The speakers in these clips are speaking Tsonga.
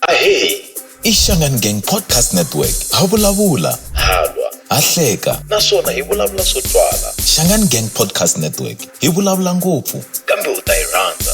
Ahee, i Shangan Gang Podcast Network. Ha vulavula, ha lwa, ha hleka naswona hi vulavula swo twala. Shangan Gang Podcast Network hi vulavula ngopfu kambe u ta yi rhandza.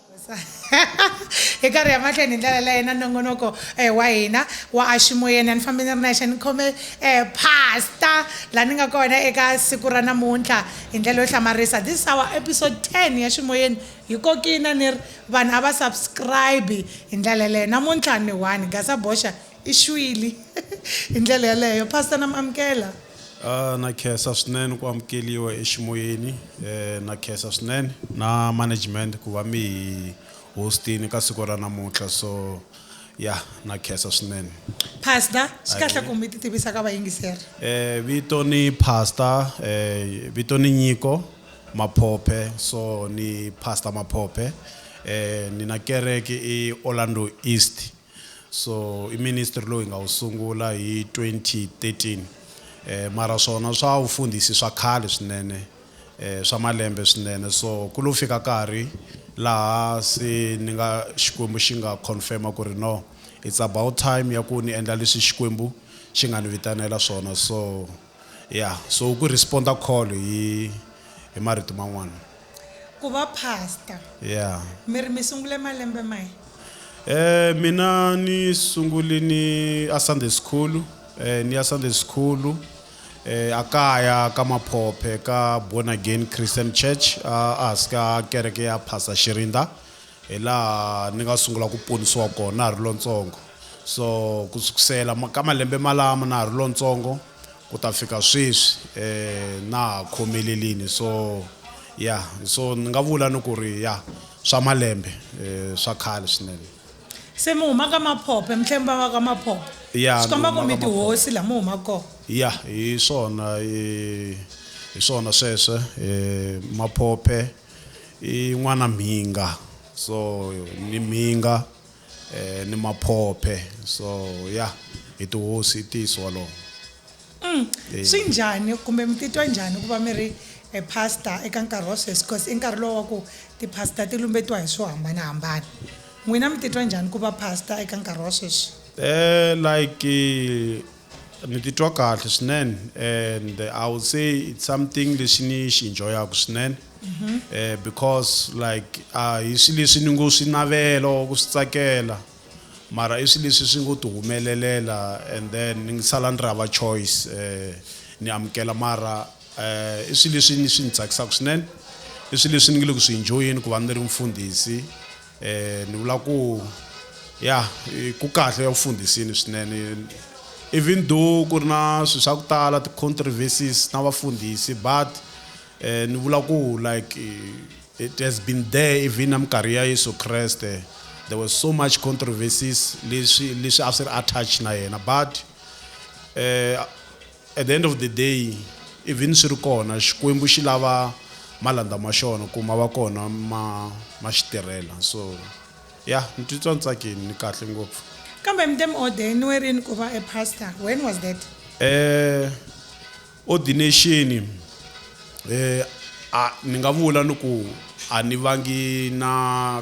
hi karhi ya mahlweni hi ndlela leyi na nongonoko um wa hina wa aximoyeni a ni fambi ni ri nexe ni khome um pasta laha ni nga kona eka siku ra namuntlha hi ndlela yo hlamarisa this our episode 10 ya ximoyeni hi kokina ni ri vanhu a va subscribe hi ndlela leyo namuntlha ni one gasa boxa I xwili hi ndlela yaleyo. Pastor na mi amukela. Ah na khensa swinene ku amukeliwa eximoyeni eh na khensa swinene na management ku va mi hi hostini ka siku ra namuntlha so ya na khensa swinene Pastor, swi kahle ku mi ti tivisa ka vayingiseri. eh vito ni pastor eh vito ni nyiko maphophe so ni pastor maphophe eh ni na kereke i Orlando East So i ministry lowu hi nga wu sungula hi 2013 mara swona swa vufundhisi swa khale swinene swa malembe swinene so ku lo fika karhi laha se ni nga Xikwembu xi nga confirma ku ri no it's about time ya ku ni endla leswi Xikwembu xi nga ni vitanela swona so Ya, so ku respond-a call hi hi marito man'wana. Ku va pastor. Ya. Mi ri mi sungule malembe mahi? Eh mina ni sunguli ni a Sunday school eh ni ya Sunday school eh a kaya ka Maphophe ka Born Again Christian Church a a hansi ka kereke ya Pastor Xirinda. Hi laha ni nga sungula ku ponisiwa kona na ha ri lontsongo. So ku sukusela ka malembe malamo na ha ri lontsongo ku ta fika sweswi na ha khomelerini so ya so ni nga vula ni ku ri ya swa malembe swa khale swinene. Se mi huma ka Maphophe mi tlhe mi va va ka Maphophe Ya, swi ni komba ku huma mi ka Maphophe. tihosi laha mi humaka kona. Ya hi swona hi swona sweswo Maphophe. i n'wana mhinga so ni mhinga eh, ni maphophe so ya yeah, hi tihosi i ntiyiso wolowo mm. Eh. swi njhani kumbe mi titwa njhani ku va mi ri e pastor eka nkarhi wa sweswi because i nkarhi lowu wa ku ti-pastor ti lumbetiwa hi swo hambanahambana n'wina mi titwa njhani ku va pastor eka nkarhi wa sweswi um like Ni titwa kahle swinene and I would say it's something lexi ni xi enjoyaka swinene eh, because like a hi swi leswi ni ngo swi navela or ku swi tsakela mara i swi leswi swi ngo ti humelelela and then ni sala ni ri hava choice eh, ni amukela mara eh, i swi leswi ni swi ni tsakisaka swinene i swi leswi ni nge le ku swi enjoyeni ku va ni ri mfundhisi Eh, ni vula ku ya ku kahle ya vufundhisini swinene even though ku ri na swilo swa ku tala ti-controversies na vafundhisi but eh, ni vula ku like eh, it has been there even na minkarhi ya yesu kreste there was so much controversies leswi leswi a swi ri attach na yena but eh, At the end of the day even swi ri kona Xikwembu xi lava malandza ma xona ku ma va kona ma ma xi tirhela so ya ni titwa ni tsakini ni kahle ngopfu. Kambe Mdam Ode ni we rini ku va a pastor? When was that? Eh ordination eh a ni nga vula ni ku a ni vangi na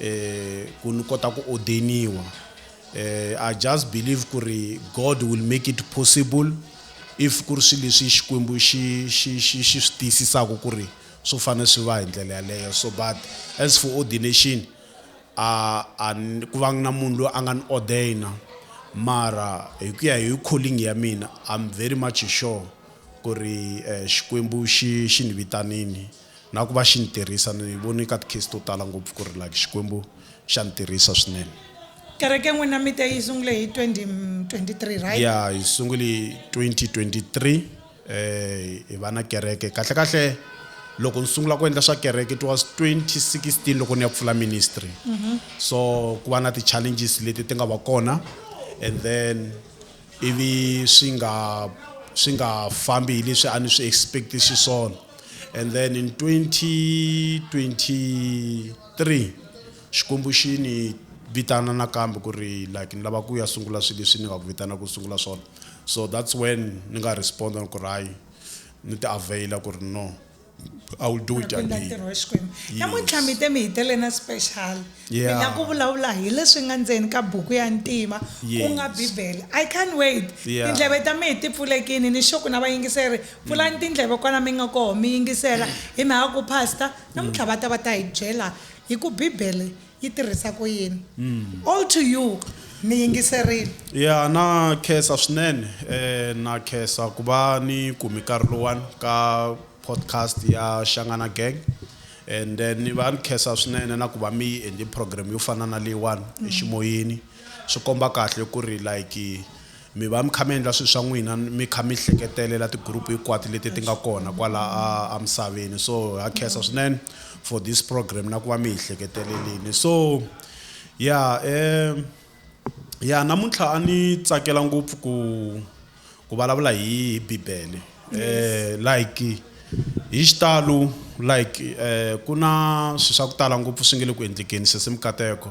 eh, ku ni kota ku ordeniwa eh, i just believe ku ri god will make it possible if ku ri swilo leswi xikwembu xi xi xi xi swi tiyisisaka ku ri swo fanele swi va hi ndlela yaleyo so but as for ordination a a ku va na munhu loyi a nga ni ordaina mara hi ku ya hi calling ya mina i'm very much sure ku ri eh, xikwembu xi xi ni vitanini Na ku va xi ni tirhisa. Ni vone ka ti-case to tala ngopfu ku ri like Xikwembu xa ni tirhisa swinene. Kereke n'wina mi te yi sungule hi 2023 right? Yeah, hi sungule hi 2023 hi va na kereke. Kahle kahle loko ni sungula ku endla swa kereke it was 2016 loko ni ya ku pfula ministry. So ku va na ti-challenges leti ti nga va kona and then. ivi swi nga swi nga fambi hi leswi a ni swi expect xiswona and then in 2023 xikwembu xi ni vitana nakambe ku ri like ni lava ku ya sungula swilo leswi ni nga ku vitana ku sungula swona so that's when ni nga responda ni ku ri hayi ni ti availa ku ri no I will do it again. Ntirho wa Xikwembu. Namuntlha mi te mi hi tele na special. Yeah. Mi la ku vulavula hi leswi nga ndzeni ka buku ya ntima ku nga Bibele. I can't wait. Yeah. Tindleve ta mehe ti pfulekini ni xo ku na vayingiseri pfulani mm. tindleve kwala mi nga koho mi yingisela hi mhaka ku pastor namuntlha mm. va ta va ta hi byela hi ku Bibele yi tirhisa ku yini mm. all to you mi yingiserile ya na khensa swinene eh na khensa ku va ni kumi nkarhi lowani ka podcast ya xangana gang and then ni va ni khensa swinene na ku va mi yi endle program yo fana na leyiwani mm. eximoyeni swi komba kahle ku ri like Mi va mi kha mi endla swilo swa n'wina mi kha mi hleketelela ti-group hinkwato leti ti nga kona kwala a a misaveni so ha khensa swinene for this program na ku va mi hi hleketelelini so ya um ya namuntlha a ni tsakela ngopfu ku ku vulavula hi hi bibele um like hi xitalo like um ku na swilo swa ku tala ngopfu swi nge le ku endlekeni sesi mikateko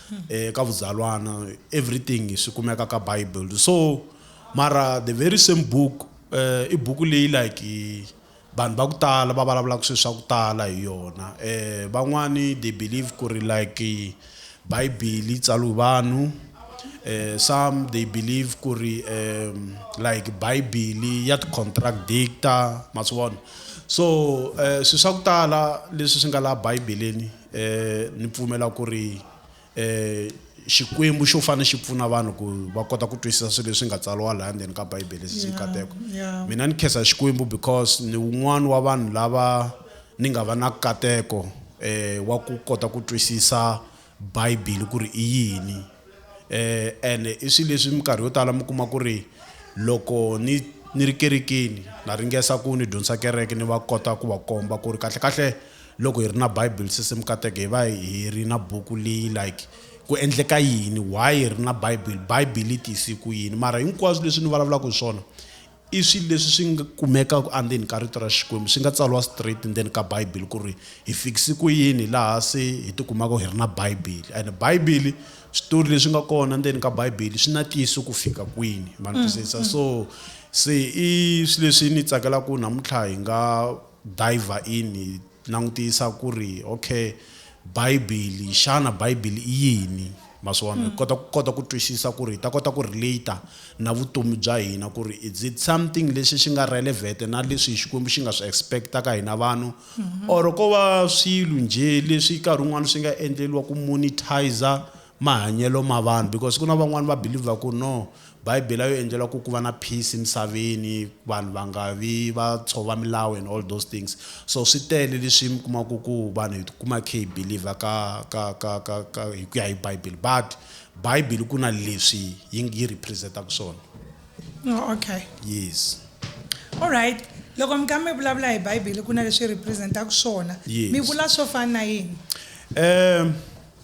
eka vudzalwana everything swi kumeka ka bible so mara the very same book uh, i buku leyi like vanhu va ku tala va vulavulaka swilo swa ku tala hi yona um van'wani they believe ku ri like bibele yi tsaliwe vanhu um some they believe ku ri um like bibele ya ti-contradictor ma swi vona so um swilo swa ku tala leswi swi nga laha bibeleni eh ni pfumela ku ri eh xikwembu xo fane xi pfuna vanhu ku va kota ku twisisa swilo leswi nga tsariwa laha ndzeni ka bibele sisi nkateko mina ni khensa xikwembu because ni wun'wani wa vanhu lava ni nga va na kateko eh wa ku kota ku twisisa bibele ku ri i yini Eh, and i swilo leswi minkarhi yo tala mi kuma ku ri loko ni ni ri kerekeni na ringesa ku ni dyondzisa kereke ni va kota ku va komba ku ri kahle kahle loko hi ri na bible se se mi kateke hi va hi ri na buku leyi like ku endleka yini why hi ri na bible bible yi tiyise ku yini mara hinkwaswo leswi ni vulavulaka hi swona I swilo leswi swi nga kumekaka andzeni ka Rito ra Xikwembu, swi nga tsariwa straight ndzeni ka Bibele ku ri hi fikise ku yini laha se hi ti kumaka hi ri na Bibele. And Bibele, switori leswi nga kona ndzeni ka Bibele swi na ntiyiso ku fika kwini, ma ni twisisa. So se i swilo leswi ni tsakelaka ku namuntlha hi nga dive-a in hi. langutisa ku ri okay Bibele xana Bibele i yini ma swi vona hi kota ku kota ku twisisa ku ri hi ta kota ku relate na vutomi bya hina ku ri is it something lexi xi nga relevant na leswi Xikwembu xi nga swi expect ka hina vanhu or ko va swilo njhe leswi nkarhi wun'wani swi nga endleriwa ku monetizer mahanyelo ma vanhu because ku na van'wani va believer ku no Bibele yo endlela ku ku va na peace emisaveni vanhu va nga vi va tshova milawu and all those things so swi tele leswi mi kumaka ku vanhu hi kuma khe hi believer ka ka ka ka ka hi ku ya hi Bibele but Bibele ku na leswi yi yi representaka swona oh, okay yes all right loko mi ka mi vulavula hi Bibele ku na leswi representaka swona mi vula swo fana na yini um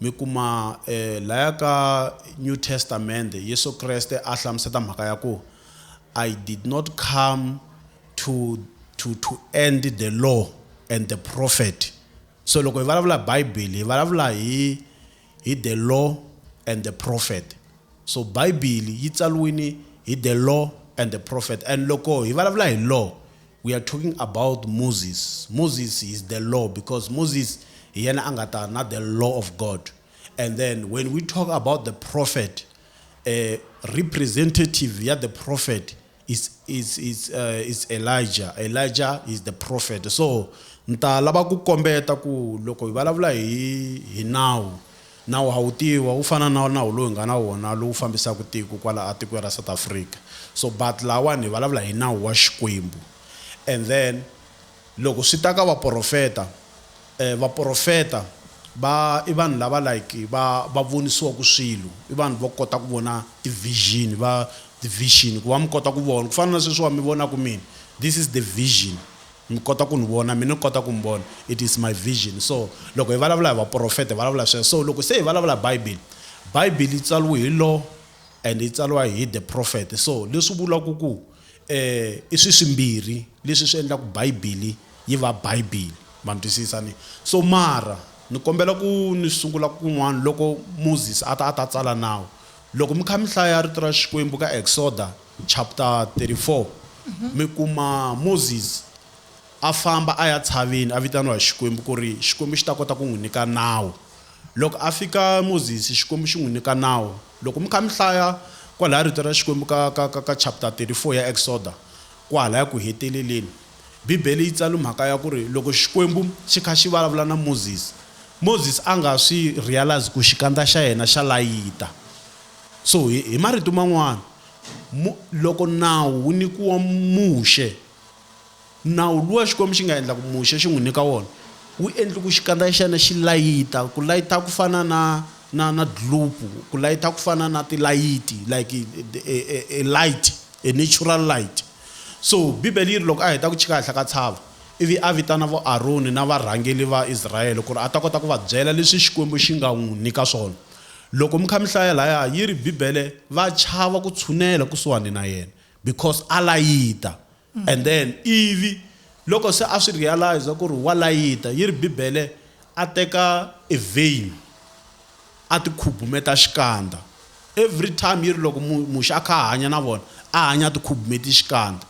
Mi kuma, e, laya ka New Testamende, Yesu Kreste a hlamuseta mhaka ya ku, I did not come to, to, to end the law and the prophet. So loko hi valavula hi Bibele, hi valavula hi, hi the law and the prophet. So Bibele yi tsaliwini hi the law and the prophet. And loko hi valavula hi law, We are talking about Moses, Moses is the law because Moses hi yena a nga ta na the law of God and then when we talk about the prophet uh, representative ya the prophet is, is, is, uh, is Elijah Elijah is the prophet so ni ta lava ku kombeta ku loko hi vulavula hi hi nawu Nawu ha wu tiva, wu fana na nawu lowu hi nga na wona lowu fambisaka tiko kwala a tikweni ra South Africa. So but lawani hi vulavula hi nawu wa Xikwembu. And then loko swi ta ka vaporofeta, eh vaporofeta va i vanhu lava like va va vonisiwaka swilo, i vanhu vo kota ku vona ti vision va ti vision ku va mi kota ku vona ku fana na sweswiwa mi vonaka mina this is the vision. Mi kota ku ni vona? Mina ni kota ku mi vona. It is my vision. So, loko hi vulavula hi vaprofeta, hi vulavula sweswo. So, loko se hi vulavula hi Bibele, Bibele yi tsariwe hi lo and yi tsariwa hi the prophet. So, leswi vulaka ku i swilo swimbirhi leswi swi endlaka Bibele yi va Bibele. Ma ni twisisa? Ni. So, mara ni kombela ku ni sungula kun'wana. Loko Moses a ta a ta tsala nawu, loko mi kha mi hlaya Rito ra Xikwembu ka Exoda, Chapter 34, Mi kuma Moses a famba a ya tshaveni a vitaniwa hi Xikwembu ku ri Xikwembu xi ta kota ku n'wi nyika nawu. Loko a fika Moses Xikwembu xi n'wi nyika nawu. Loko mi kha mi hlaya kwalaya rito ra Xikwembu ka ka ka ka chapter 34 ya Exoda kwalaya ku heteleleni Bibele yi tsale mhaka ya ku ri loko Xikwembu xi kha xi vulavula na Moses, Moses a nga swi realize ku xikandza xa yena xa layita So, hi, hi marito man'wana, Mu, loko Nawu wu nyikiwa Muxe, Nawu luwa Xikwembu xi nga endla ku Muxe xi n'wi nyika wona, wu endli ku xikandza xa xena xi layita, ku layita ku fana na, na, na dlupu, ku layita ku fana na tilayiti, like a, a, a light, a natural light. So, Bibele yi ri, loko a heta ku tshika henhla ka tshava, ivi a vitana vo Aroni na varhangeli va Israele ku ri a ta kota ku va byela leswi Xikwembu xi nga n'wi nyika swona, Loko mi kha mi hlaya laya yi ri Bibele va chava ku tshunela kusuhani na yena because a layita and then ivi loko se a swi realize ku ri wa layita yi ri Bibele a teka e vein a ti khubumeta xikandza every time yi ri loko muxa a kha a hanya na vona a hanya a ti khubumeti xikandza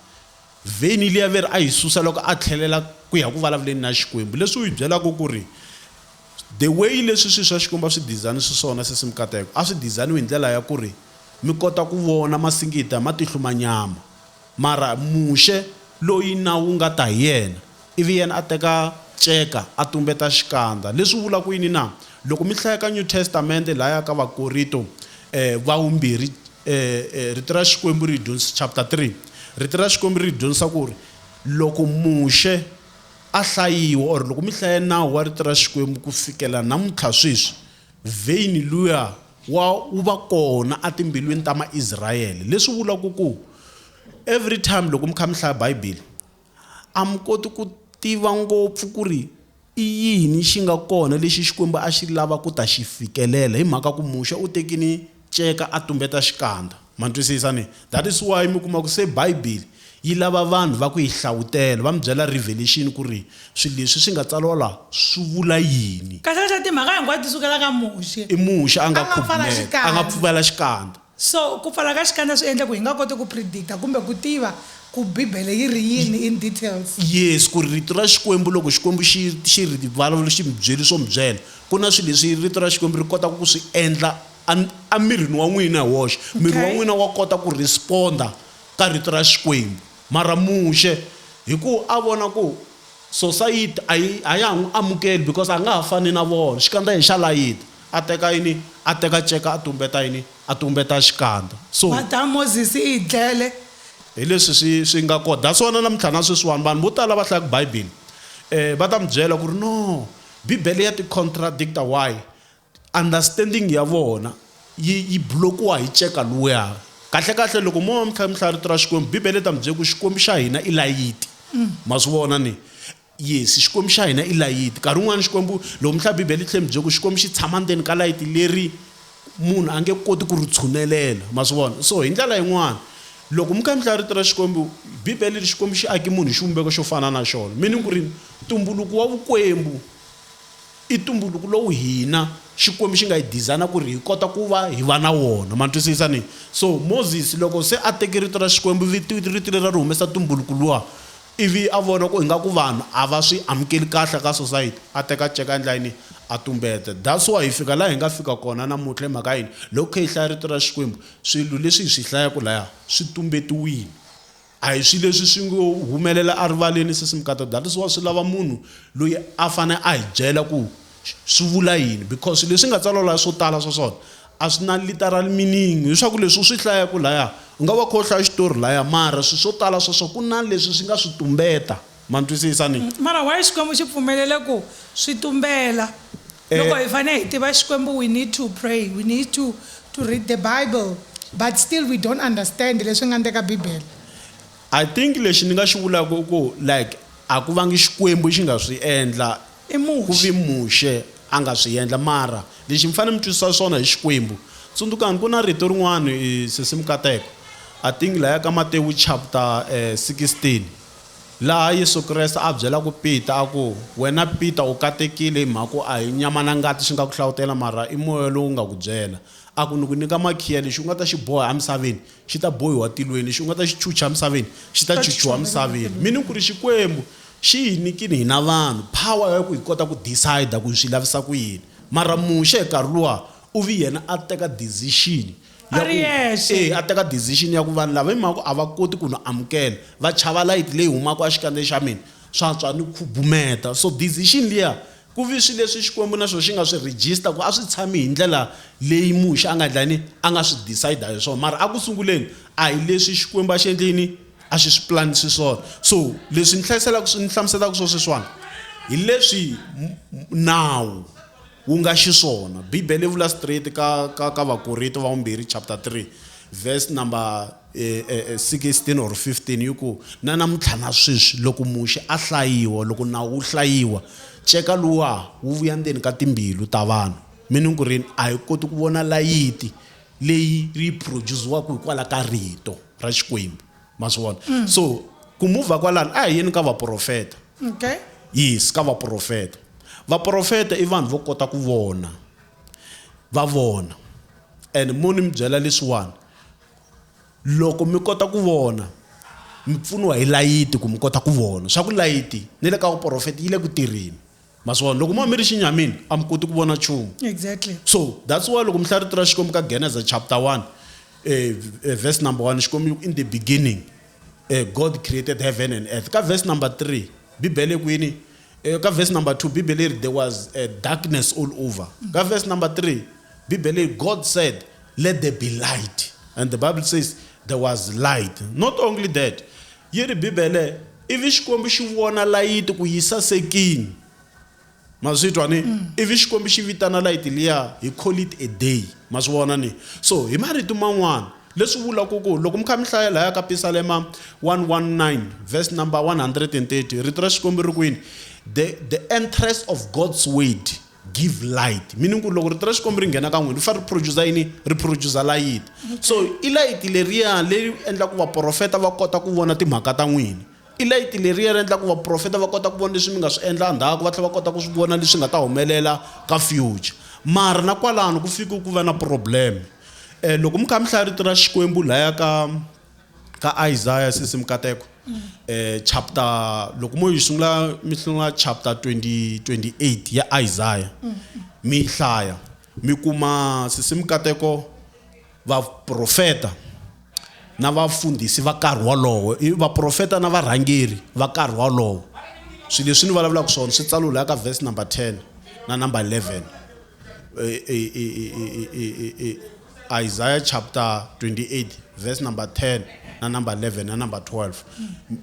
vein liya veri a yi susa loko a tlhelela ku ya ku vulavuleni na Xikwembu leswi u yi byelaka ku ri The way leswi swi swa Xikwembu a swi dizayini swiswona sesimi kateko a swi dizayiniwe hi ndlela ya ku ri mi kota ku vona masingita hi matihlu ma nyama. Mara Muxe loyi nawu wu nga ta hi yena, ivi yena a teka nceka a tumbeta xikandza. Leswi vula ku yini na? Loko mi hlaya ka New Testamente lahaya ka Vakorito va Wumbirhi, Rito ra Xikwembu ri hi dyondzisa, chapter 3, Rito ra Xikwembu ri hi dyondzisa ku ri loko Muxe A hlayiwa or loko mi hlaya nawu wa rito ra Xikwembu ku fikela namuntlha sweswi, vein luya wa wu va kona a timbilwini ta Maisrayele. Leswi vulaka ku every time loko mi kha mi hlaya Bibele a mi koti ku tiva ngopfu ku ri i yini xi nga kona lexi Xikwembu a xi lava ku ta xi fikelela hi mhaka ku Muxe u tekini Ceka a tumbeta xikandza. Ma ntwisisa ne? That is why mi kuma ku se Bibele yi lava vanhu va ku yi hlawutela, va mi byela Revelation ku ri swilo leswi swi nga tsariwa la swi vula yini. Kasi leswa timhaka hinkwato ti sukela ka Muxe. I Muxe a nga khubumeta, a nga pfuvela xikandza. So, ku pfala ka xikandza swi endle ku hi nga koti ku predicta kumbe ku tiva ku Bibele yi ri yini in details. Yes, ku ri Rito ra Xikwembu loko Xikwembu xi, xi ri vulavula, xi mi byele swo mi byela, Ku na swilo leswi Rito ra Xikwembu ri kotaka ku swi endla emirini wa n'wina hi woxe. Miri wa n'wina wa kota ku respond-a ka Rito ra Xikwembu. Mara Muxe, hikuva a vona ku sosayiti a yi a ya ha n'wi amukeli because a nga ha fani na vona, xikandza hi xa layita, a teka yini? A teka nceka a tumbeta yini? A tumbeta xikandza. So. Mhaka ya Moses i hi dlele. Hi leswi swi swi nga kona. That's why na namuntlha na sweswiwani vanhu vo tala lava hlayaka Bibele va ta mi byela ku ri, No, Bibele ya ti contradicta why? Understanding ya vona yi yi blokiwa hi ceka luya. Kahle kahle loko mo mi kha mi hlaya rito ra Xikwembu, Bibele yi ta mi byela ku Xikwembu xa hina i layiti. Ma swi vona ni? Yes, Xikwembu xa hina i layiti. Nkarhi wun'wana Xikwembu loko mi hlaya Bibele yi tlhela yi mi byela ku Xikwembu xi tshama ndzeni ka layiti leri Munhu a nge koti ku ri tshunelela. Ma swi vona? So hi ndlela yin'wana, loko mi kha mi hlaya Rito ra Xikwembu, Bibele ri ri Xikwembu xi ake munhu hi xivumbeko xo fana na xona, meaning ku ri ntumbuluko wa vukwembu i ntumbuluko lowu hina Xikwembu xi nga hi dizayina ku ri hi kota ku va hi va na wona. Ma twisisa? Ni. So Moses loko se a teke Rito ra Xikwembu, Rito leri a ri humesa ntumbuluko luwa, ivi a vona ku ingaku vanhu a va swi amukeli kahle ka society, a teka nceka endlayini a tumbeta. That's why hi fika laha hi nga fika kona namuntlha. Hi mhaka yini? Loko hi kha hi hlaya Rito ra Xikwembu, swilo leswi hi swi hlayaku laya swi tumbetiwile. A hi swilo leswi swi ngo humelela erivaleni, Sesi Mkata. That is why swi lava munhu loyi a fane a hi byela ku swi vula yini because leswi nga tsariwa laya swo tala swa swona a swi na literal meaning leswaku leswi u swi hlayaku laya u nga va kha u hlaya xitori laya mara swi swo tala swa swo ku na leswi swi nga swi tumbeta ma ni twisisa ni mara why xikwembu xi pfumelele ku swi tumbela loko hi fane hi tiva xikwembu we need to pray we need to to read the bible but still we don't understand leswi nga ndeka bibele I think lexi ni nga xi vulaku i ku like a ku vangi xikwembu xi nga swi endla I Muxe. Ku vi Muxe a nga swi yendla, mara lexi mi fanele mi twisisa xona hi Xikwembu, tsundzukani ku na rito rin'wani, i sesimu kateko, I think laya ka Matewu chapter 16, laha Yesu Kreste a byelaka Peter a ku, wena Peter u katekile hi mhaka ku a hi nyama na ngati xi nga ku hlavutela, mara i Moya lowu nga ku byela. A ku, ni ku nyika makhiya, lexi u nga ta xi boha emisaveni xi ta bohiwa tilweni, lexi u nga ta xi chucha emisaveni xi ta chuchiwa emisaveni. Meaning ku ri Xikwembu Xi hi nikini hina vanhu power ya ku hi kota ku decide ku hi swi lavisa ku yini. Mara Muxe hi nkarhi luwa u vi yena a teka decision ya ku e a teka decision ya ku vanhu lava hi mhaka ku a va koti ku ni amukela va chava light leyi humaka exikandzeni xa mina swa tswa ni khubumeta so decision liya ku vi swi leswi Xikwembu na swo xi nga swi register ku a swi tshami hi ndlela leyi Muxe a nga endla yini a nga swi decide hi swona mara a ku sunguleni a hi leswi Xikwembu a xi endle yini A xi swi plan xiswona. So leswi ni hlayiselaka swi ni hlamuselaka swo sweswiwani hi leswi nawu wu nga xiswona. Bibele yi vula straight ka ka ka Vakorito va vumbirhi chapter 3 verse number eh, eh, 16 eh, or 15 yi ku na namuntlha na sweswi loko muxe a hlayiwa loko nawu wu hlayiwa ceka luwa wu vuya ndzeni ka timbilu ta vanhu mi ni ku rini a hi koti ku vona layiti leyi yi produce-waku hikwala ka rito ra xikwembu ma swi vona mm. so ku muvha kwalano a hi yeni ka vaprofeta okay. yes ka vaprofeta vaprofeta i vanhu vo kota ku vona va vona and mo ni mi byela leswiwani loko mi kota ku vona mi pfuniwa hi layiti ku mi kota ku vona swa ku layiti ni le ka vuprofeta yi le ku tirheni ma swi vona loko mo mi ri xinyamini a mi koti ku vona nchumu exactly so that's why loko mi hlaya rito ra xikwembu ka geneza chapter 1 um eh, eh, verse number 1 xikwembu in the beginning eh, god created heaven and earth ka verse number 3 bibele ku yini eh, ka verse number 2 bibele ri there was eh, darkness all over ka verse number 3 bibele god said let there be light and the bible says there was light not only that Yi ri, Bibele, ivi Xikwembu xi vona layiti ku yi sasekini. Ma swi twa ni? Ivi Xikwembu xi vitana layiti liya, He call it a day. Ma swi vona ni? So, hi marito man'wana, leswi vula ku ku loko mi kha mi hlaya laya ka Pisalema 119 verse number 130, Rito ra Xikwembu ri ku yini? The, the entrance of God's word. give light meaning ku loko rito ra xikwembu ri nghena ka n'wina ri fanele ri producer yini ri producer layiti so i layiti leriya leyi endla ku vaprofeta va kota ku vona timhaka ta n'wina i layiti leriya ri endla ku vaprofeta va kota ku vona leswi mi nga swi endla ndzhaku va tlhela va kota ku swi vona leswi nga ta humelela ka future mara na kwalano ku fike ku va na problem um loko mi kha mi hlaya rito ra xikwembu laya ka Ka Isaya sesi mukateko chapter loko mo yi sungula mi sungula chapter 20 28 ya Isaya mi yi hlaya mi kuma sesi mukateko vaprofeta na vafundhisi va nkarhi wolowo i vaprofeta na varhangeri va nkarhi wolowo swilo leswi ni vulavulaka swona swi tsaliwe laha ka verse number 10 na number 11 i i i i i i i Isaiah chapter 28 verse number 10 na number 11 na number 12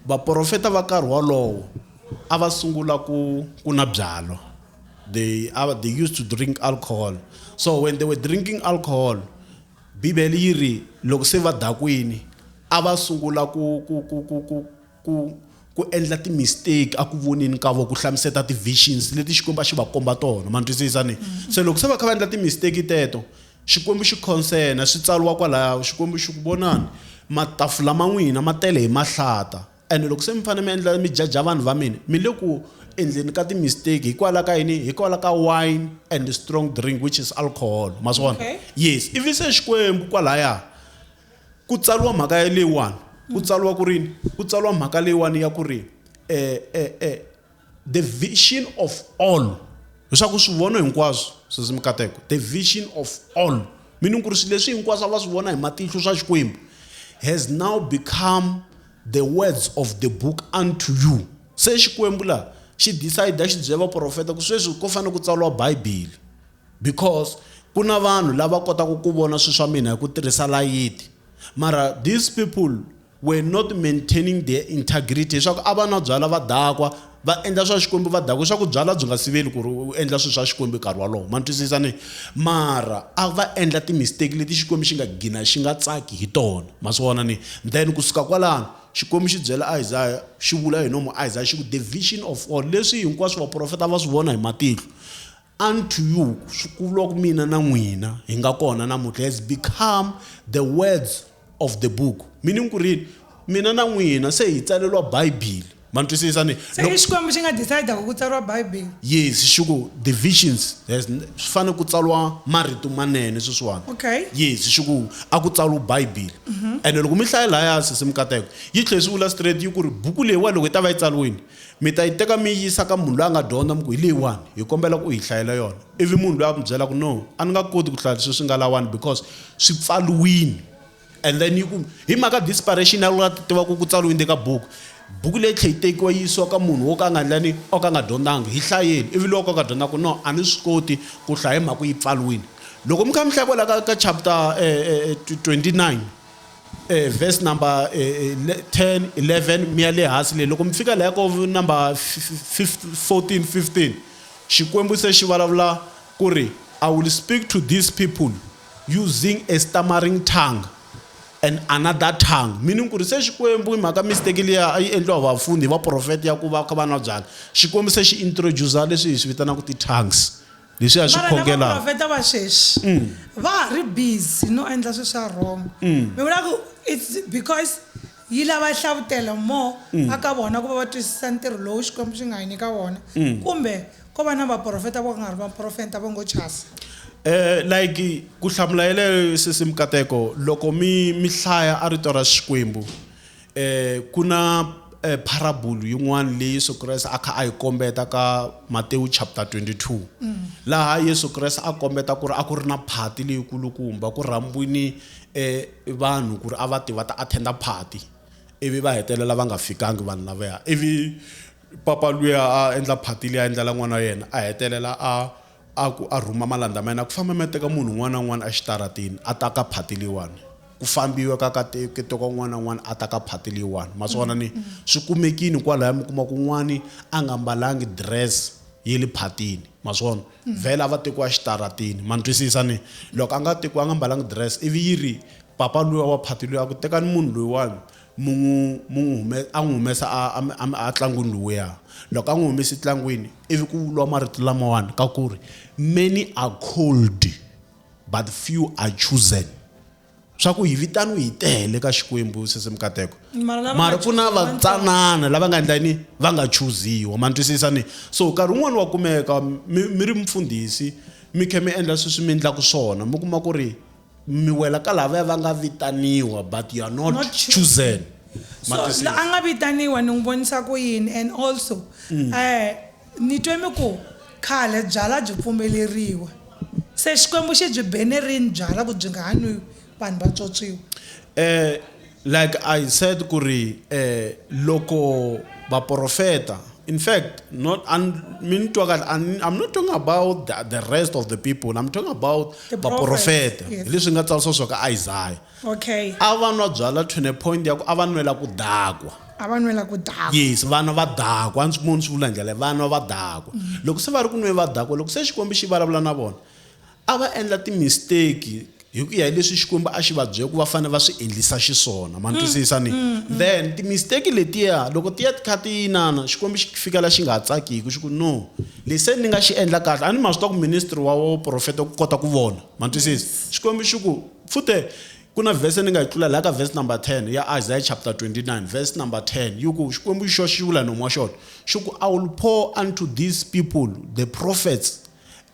vaprofeta va karhi wolowo a va sungula ku ku na byalwa they, uh, they used to drink alcohol so when they were drinking alcohol bibele yi ri loko se va dakwini a va sungula ku ku ku ku ku Ku ku endla ti mistake a ku voneni ka vo ku hlamuseta ti visions leti Xikwembu a xi va komba tona ma twisisa ni mm-hmm. se loko se va kha va endla ti mistake teto Xikwembu xi consena swi tsariwa kwalaya Xikwembu xi ku vonani matafula ma n'wina ma tele hi mahlata ene loko se mi fanele mi endla mi jaja vanhu va mina mi le ku endleni ka ti mistake hikwala ka yini hikwala ka wine and strong drink which is alcohol ma swi vona yes ivi se Xikwembu kwalaya Ku tsariwa mhaka ya leyiwani ku tsariwa ku rini ku tsariwa mhaka leyiwani ya ku ri eh, eh, eh, the vision of all leswaku swi vona hinkwaswo sesi mikateko the vision of all meaning ku ri swilo leswi hinkwaswo va swi vona hi matihlo swa xikwembu has now become the words of the book unto you se xikwembu laha xi decide xi byela vaprofeta ku sweswi ko fanele ku tsariwa bibele Because ku na vanhu lava kotaka ku vona swilo swa mina hi ku tirhisa layiti. Mara these people were not maintaining their integrity leswaku a va nwa byala va dakwa va endla swa xikwembu va dakwa leswaku byala byi nga siveli ku ri u endla swilo swa xikwembu nkarhi wolowo ma ni twisisa ni mara a va endla ti-mistake leti xikwembu xi nga gina xi nga tsaki hi tona ma swi vona ni then kusuka kwalano xikwembu xi byela isaya xi vula hi nomu isaya xi ku the vision of all leswi hinkwaswo vaprofeta va swi vona hi matihlo Unto you, swivuriwa ku mina na n'wina hi nga kona namuntlha, has become the words of the book. Meaning ku ri mina na n'wina se hi tsaleriwa Bibele. Ma ni twisisa ni? Se i Xikwembu xi nga decide-aka ku tsariwa Bibele. Yes, xi ku the visions has swi fanele ku tsariwa marito manene sweswiwani. Okay. Yes, xi ku a ku tsariwa Bibele. Ene loko mi hlaya lahaya sesi Mukateko, yi tlhela yi swi vula straight yi ku ri buku leyiwa loko yi ta va yi tsariwile Mi ta yi teka mi yi yisa ka munhu loyi a nga dyondza, mi ku, Hi leyiwani, hi kombela ku u hi hlayela yona. Ivi munhu loyi a mi byela ku, No, a ni nga koti ku hlaya leswi swi nga lawani because swi pfariwile. And then yi ku, Hi mhaka desperation a wu la ku tiva ku ku tsariwe yini le ka buku. Buku leyi yi tlhela yi tekiwa yi yisiwa ka munhu wo ka a nga endla yini? O ka a nga dyondzanga. Hi hlayeni. Ivi loyi o ka a nga dyondzanga a ku, No, a ni swi koti ku hlaya hi mhaka ku yi pfariwile. Loko mi kha mi hlaya kwalaya ka ka chapter 29. E, verse number e, e, 10 11 mi ya le hansi leyi loko mi fika laya ko number 14 15 xikwembu se xi vulavula ku ri i will speak to these people using a stammering tongue and another tongue meaning ku ri se xikwembu hi mhaka mistake liya a yi endliwa vapfuni hi vaprofeta ya ku va kha va nwa byala xikwembu se xi introducer leswi hi swi vitanaka ti-tongues leswi a swi mara na khongela vaprofeta va sweswi va ha ri busy no endla swi swa wrong mi vula ku its because yi lava hlavutelo more a ka vona ku va va twisisa ntirho lowu xikwembu xi nga hi nyika wona kumbe ko va na vaprofeta vo ka nga ri vaprofeta vo ngo chasa Eh like ku hlamula yeleyo sesi mikateko loko mi mi hlaya a rito ra Xikwembu E, ku na e, pharabulu yin'wana leyi Yesu Kreste a kha a yi kombeta ka Matewu chapter 22 mm. laha Yesu Kreste a kombeta ku ri a ku ri na phati leyikulukumba ku rhambwini e, vanhu ku ri a va ti va ta attenda phati ivi va hetelela va nga fikangi vanhu lavaya ivi papa luya a endla phati leyi a endlela n'wana wa yena a hetelela a A ku a rhuma malandza ma yena ku famba mi ya teka munhu un'wana na un'wana exitarateni a ta ka phati leyiwani ku fambiwa ka ka te- ke teka un'wana na un'wana a ta ka phati leyiwani ma swi vona ni swi kumekini kwalaya mi kuma ku un'wani a nga mbalangi dress ye le phatini ma swi vona vhele a va tekiwa exitarateni ma ni twisisa ni loko a nga tekiwa a nga mbalangi dress ivi yi ri papa luya wa phati luya a ku tekani munhu loyiwani Munhu mu n'wi hume, a n'wi humesa a, a, a, a tlangwini luwiya. Loko a n'wi humese tlangwini, ivi ku vuriwa marito lamawani ka ku ri, Many are called, but few are chosen. Swa ku hi vitaniwe hi tele ka Xikwembu, sesi Mikateko. Mara lava Mara nga ku na choosiwa va vatsanana lava nga endla yini? Va nga chuziwa. Ma ni twisisa ni? So nkarhi wun'wani wa kumeka mi mi ri mufundhisi, mi kha mi endla sweswi mi endlaku swona, mi kuma ku ri mi wela ka lavaya va nga vitaniwa but you are not, Not choo- chosen Ma so twisisa? la a nga vitaniwa ni n'wi vonisa ku yini and also Mm. eh ni twe mi ku khale byala byi pfumeleriwa se xikwembu xi byi bene rini byala ku byi nga ha nwiwi vanhu va tswotswiwa eh Like I said ku ri eh, loko vaprofeta in fact not an, mi ni twa kahle an- I'm not talking about the, the rest of the people I'm talking about The vaprofeta prophets, yes. hi leswi nga tsarisiwa swo ka Isaiah okay a va nwa byala to the point ya ku a va nwela ku dakwa a va nwela ku dava yes vana va dakwa a ndzi munhu swi vula ndlela vana va dakwa loko se va ri ku nweni va dakwa loko se xikwembu xi vulavula na vona A va endla timisteki hi ku ya hi leswi Xikwembu a xi va byele ku va fanele va swi endlisa xiswona. Ma ni twisisa ni? Then timisteki letiya loko ti ya ti kha ti inana, Xikwembu xi fikela xi nga ha tsakiki xi ku, no, leswi se ni nga xi endla kahle, a ni ma swi tiva ku ministry wa wa vuprofeta wu kota ku vona. Ma ni twisisa? Xikwembu xi ku, fute ku na verse ni nga yi tlula laha ka verse number 10 ya Isaiah chapter 29 verse number 10 yi ku, Xikwembu hi xoxe xi vula hi nomu wa xona xi ku, I will pour unto these people, the prophets,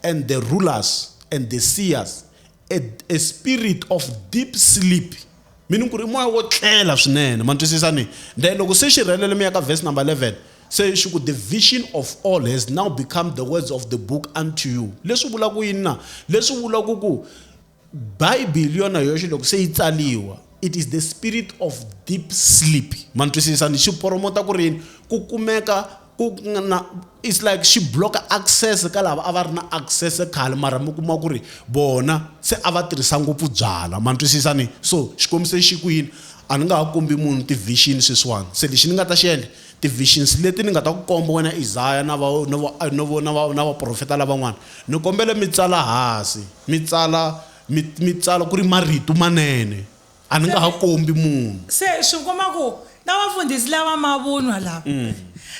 and the rulers and the seers a, a spirit of deep sleep meaning ku ri moya wo tlela swinene ma twisisa ni then loko se xi rhelele mi ya ka verse number 11 se xi ku the vision of all has now become the words of the book unto you leswi vula ku yini na leswi vula ku ku bibele yona yoxe loko se yi tsaliwa it is the spirit of deep sleep ma ni twisisa ni xi poromota ku rini ku kumeka ku na it's like xi block access ka lava a va ri na access khale mara mi kuma ku ri vona se a va tirhisa ngopfu byala ma ni twisisa ni so xikombiso xi ku yini a ni nga ha kombi munhu ti-vision sweswiwani se lexi ni nga ta xi endla Ti-visions leti ni nga ta ku komba wena Isaya na va, na va, na vo, na va, na vaprofeta lavan'wana, ni kombela mi tsala hasi, mi tsala, mi, mi tsala ku ri marito manene. A ni nga ha kombi munhu. Se swi ku komba ku na vafundhisi lava mavunwa lava,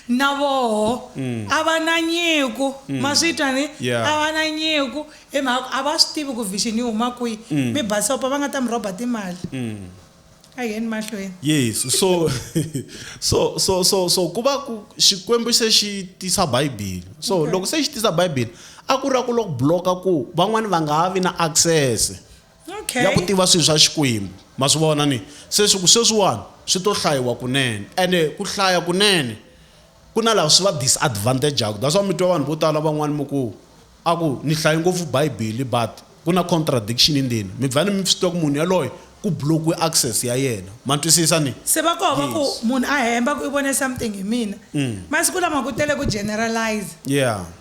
na voho a va na nyiko. Ma swi twa ni? A va na nyiko hi mhaka ku a va swi tivi ku vision yi huma kwihi. Mi basisa ku va nga ta mi rhoba timali. A hi yeni mahlweni. Yes. So so so so so ku va ku Xikwembu se xi tisa Bibele. So loko se xi tisa Bibele a ku ri ra ku lo ku block-a ku van'wani va nga ha vi na access Okay. ya ku tiva swilo swa Xikwembu. Ma swi vona ni? Se swi ku sweswiwani swi to hlayiwa kunene ene ku hlaya kunene Ku na lava swi va disadvantage-aka. That's why mi twa vanhu vo tala van'wana mi ku, a ku ni hlaye ngopfu Bibele but ku na contradiction endzeni. Mi vhele mi swi tiva ku munhu yaloye ku block-iwe access ya yena. Ma twisisa ni? Se va koho va ku, munhu a hemba ku i vone something hi mina. Masiku lama ku tele ku generalize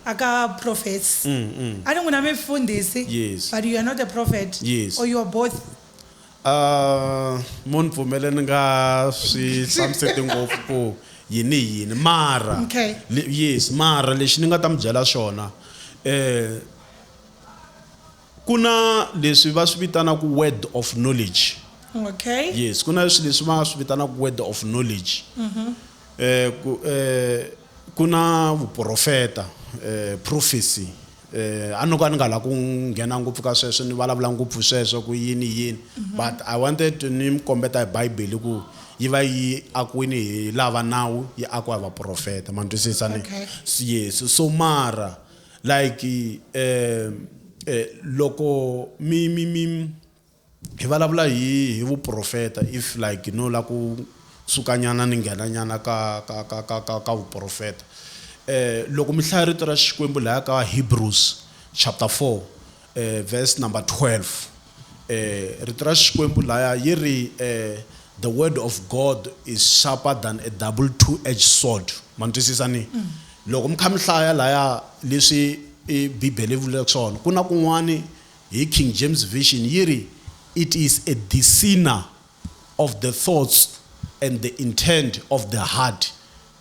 a ka prophets. A ni n'wina mi mfundhisi but you are not a prophet or you are both. Ahh mun pfumele ni nga swi hlamuseti ngopfu ku yini hi yini mara Okay. le- yes mara lexi ni nga ta mi byela xona eh ku na leswi va swi vitanaku word of knowledge Okay. yes ku na leswi leswi va swi vitanaku word of knowledge eh ku eh ku na vuprofeta eh prophecy a ni ko a ni nga la ku nghena ngopfu ka sweswo ni vulavula ngopfu sweswo ku yini yini mhm. but i wanted to ni mi kombeta hi bibele ku yi va yi akiwini hi lava nawu yi akiwa hi vaprofeta ma ni twisisa ni yes so mara like um loko mi mi mi Hi valavula hi hi vuprofeta if like no la ku sukanyana ni nghena nyana ka ka ka ka ka ka vuprofeta eh loko mi hlaya rito ra Xikwembu laya ka Hebrews chapter 4 eh verse number 12 eh rito ra Xikwembu laya yi ri eh the word of God is sharper than a double two edged sword ma twisisa ni loko mi kha mi hlaya laya leswi i Bibele yi vulaka swona ku na kun'wani hi King James Version yi ri, It is a discerner of the thoughts and the intent of the heart,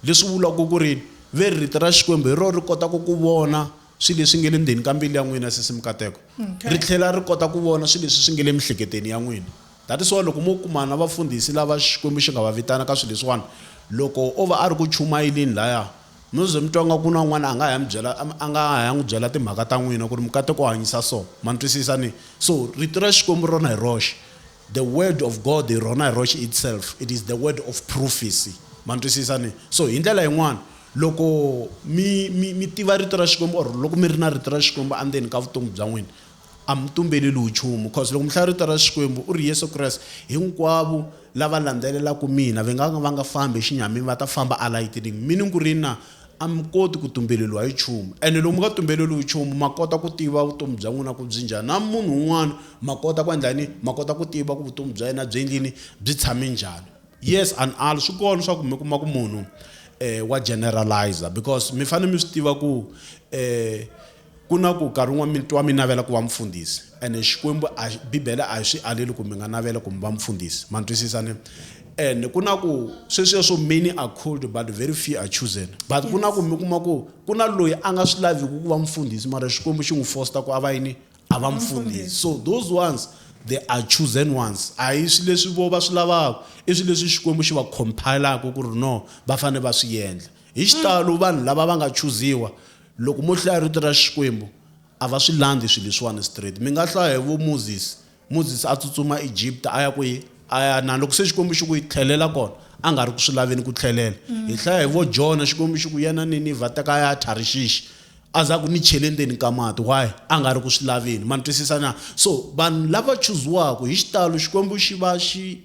leswi vulaka ku ri, Ve ri rito ra Xikwembu hi rona ri kotaka ku vona swilo leswi nge le ndzeni ka mbilu ya n'wina, sesi Mukateko, ri tlhela ri kota ku vona swilo leswi swi nge le miehleketweni ya n'wina. That is why loko mo kuma na vafundhisi lava Xikwembu xi nga va vitana ka swilo leswiwani, loko o va a ri ku chumayeleni lahaya, No ze mi twa nga ku na un'wana a nga ha ya mi byela, a nga ha ya n'wi byela timhaka ta n'wina ku ri mi kate ku hanyisa so. Ma ni twisisa ni? So, Rito ra Xikwembu rona hi roxe, the Word of God hi rona hi roxe itself, it is the word of prophecy. Ma ni twisisa ni? So, hi ndlela yin'wana, loko mi, mi, mi tiva Rito ra Xikwembu or loko mi ri na Rito ra Xikwembu andzeni ka vutomi bya n'wina, A mi tumbeleliwi nchumu, coz loko mi hlaya rito ra Xikwembu, u ri Yesu Kreste, hinkwavo lava landzelelaka mina, va nga ka va nga fambi hi xinyamini, va ta famba alayitining. Meaning ku ri yini na? A mi koti ku tumbeleliwa hi nchumu. Ene loko mi nga tumbeleliwi nchumu, ma kota ku tiva vutomi bya n'wina ku byi njhani. Na munhu un'wana ma kota ku endla yini? Ma kota ku tiva ku vutomi bya yena byi endleni? Byi tshame njhani. Yes and al, swi kona swa ku mi kuma ku munhu wa generalizer because mi fanele mi swi tiva ku. Ku na ku, Nkarhi wun'wana mi twa mi navela ku va mufundhisi, ene Xikwembu a xi, Bibele a yi swi aleli ku mi nga navela ku mi va mufundhisi. Ma ntwisisa ne? Ene ku na ku, sweswiya swo many are called but very few are chosen. But ku na ku mi kuma ku ku na loyi a nga swi laviki ku va mufundhisi mara Xikwembu xi n'wi fosta ku a va yini? A va mufundhisi. So those ones they are chosen ones. A hi swi leswi voho va swi lavaka, i swi leswi Xikwembu xi va compile-aka ku ri no, va fanele va swi yendla. Hi xitalo vanhu lava va nga chuziwa, Loko mo hlaya Rito ra Xikwembu, a va swi landzi swilo leswiwani straight. Mi nga hlaya hi vo Moses. Moses a tsutsuma Egipta a ya kwihi? A ya na loko se Xikwembu xi ku yi tlhelela kona, a nga ri ku swi laveni ku tlhelela. Hi hlaya hi vo Jona, Xikwembu xi ku ya na Ninivha, teka a ya a Tharishishi. A za ku ni chele ndzeni ka mati. Why? A nga ri ku swi laveni. Ma ni twisisa na? So, vanhu lava chuziwaka, hi xitalo Xikwembu xi va xi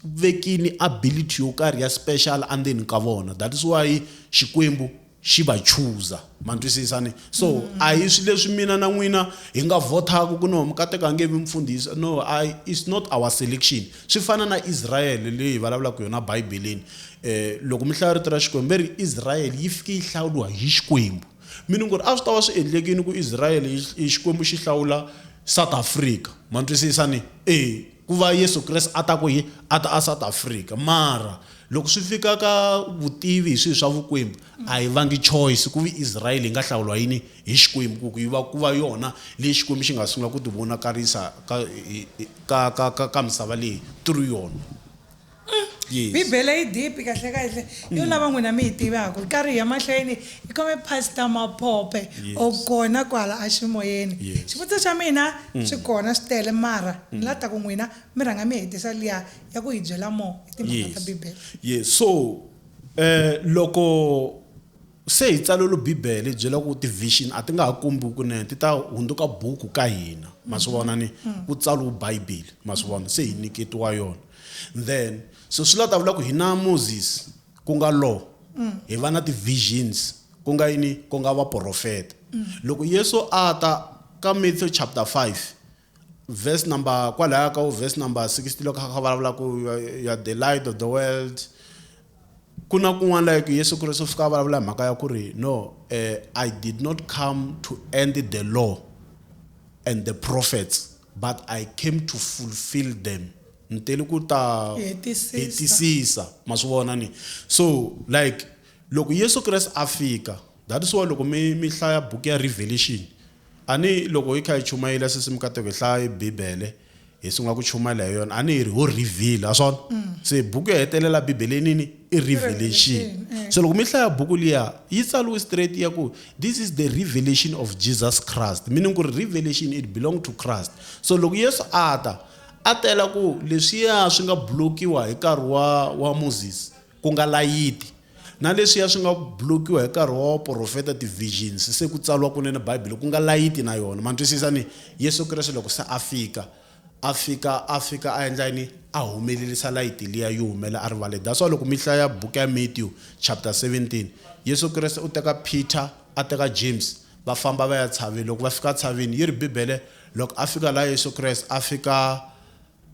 vekini ability yo karhi ya special endzeni ka vona. That is why Xikwembu xi va chuza ma twisisa ni so mm. a hi swi leswi mina na n'wina hi nga vhothaka ku no mukateko a nge vi mfundhisi no I, it's not our selection swi fana na israyele leyi vulavulaka yona bibeleni um eh, loko mi hlaya rito ra xikwembu ve ri israyele yi fike yi hlawuriwa hi xikwembu mi ni ku ri a swi ta va swi endlekini ku israyele xikwembu xi hlawula south africa ma twisisa ni e Ku va Yesu Kreste a ta ku yini? A ta aSouth Africa. Mara loko swi fika ka vutivi hi swilo swa Vukwembu, a hi vangi choice ku vi Israyele yi nga hlawuriwa yini hi Xikwembu ku ku yi va ku va yona leyi Xikwembu xi nga sungula ku tivonakarisa ka ka ka ka ka misava leyi through yona. Yes. bibele yi dipi kahle kahle yo lava n'wina mi yi tivaka ri karhi hi ya mahlweni hi khome pastor maphope Yes. o kona kwala eximoyeni Yes. xivutiso xa mina swi kona swi tele mara ni la ta ku n'wina mi rhanga mi hetisa liya ya ku hi byela more hi timhaka ta bibele yes so eh loko Se hi tsalwelu Bibele hi byela ku tivhixini a ti nga ha kombiwi kunene, ti ta hundzuka buku ka hina. Ma swi vona ni? Ku tsaliwe Bibele. Ma swi vona? Se hi nyiketiwa yona. Then, so swi la ta vula ku hina Moses, ku nga law, hi va na tivhixini, ku nga yini? Ku nga vaporofeta. Loko Yesu a ta ka Matthew chapter 5, Verse number kwalaya ka verse number 60 loko kha vulavula ku you are the light of the world ku na kun'wana like yesu kristu u fika a vulavula hi mhaka ya ku ri no eh, i did not come to end the law and the prophets but i came to fulfill them ni tele ku ta Hetisisa. hetisisa ma swi vona ni so like loko yesu kreste a fika That is why loko mi mi hlaya book ya Revelation a ni loko yi kha yi chumayela sesi mikateko hi hlaya Bibele hi sungula ku chumayela hi yona a ni yi ri ho reveal a swona mm. se buku yo hetelela Bibele nini i revelation eh. so loko mi hlaya buku liya yi tsaliwe straight ya ku this is the revelation of Jesus Christ meaning ku ri revelation it belong to Christ so loko Yesu a ta a tela ku leswiya swi nga blokiwa hi nkarhi wa wa Moses ku nga layiti na leswiya swi nga blokiwa hi nkarhi wa waprofeta ti-visions se ku tsariwa kunene bibele ku nga layiti na yona ma twisisa ni yesu kreste loko se a fika a fika a fika a endla yini a humelelisa layiti liya yi humela a rivale that's why loko mi hlaya buku ya matthew chapter 17 yesu kreste u teka peter a teka james va famba va ya tshaveni loko va fika tshaveni yi ri bibele loko a fika laha yesu kreste a fika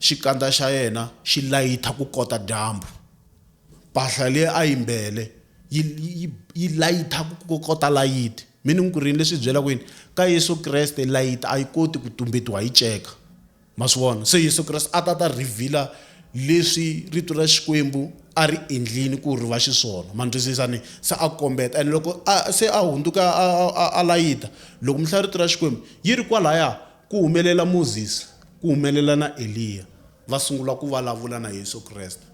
Xikandza xa yena xi layitha kukota dyambu. Mpahla leyi a yi mbele yi, yi, yi layitha kukota layiti. Mi ni ku rini leswi hi byelaka yini? Ka Yesu Kreste layiti a yi koti ku tumbetiwa hi ceka. Ma swi vona? Se Yesu Kreste a ta ta reveal-a leswi Rito ra Xikwembu a ri endlini ku ri va xiswona. Ma ni twisisa ni? Se a kombeta ene loko a se a hundzuka a, a, a, a layita, loko mi hlaya Rito ra Xikwembu, yi ri kwalaya Ku humelela Mozisi, ku humelela na Eliya, va sungula ku valavula na Yesu Kreste.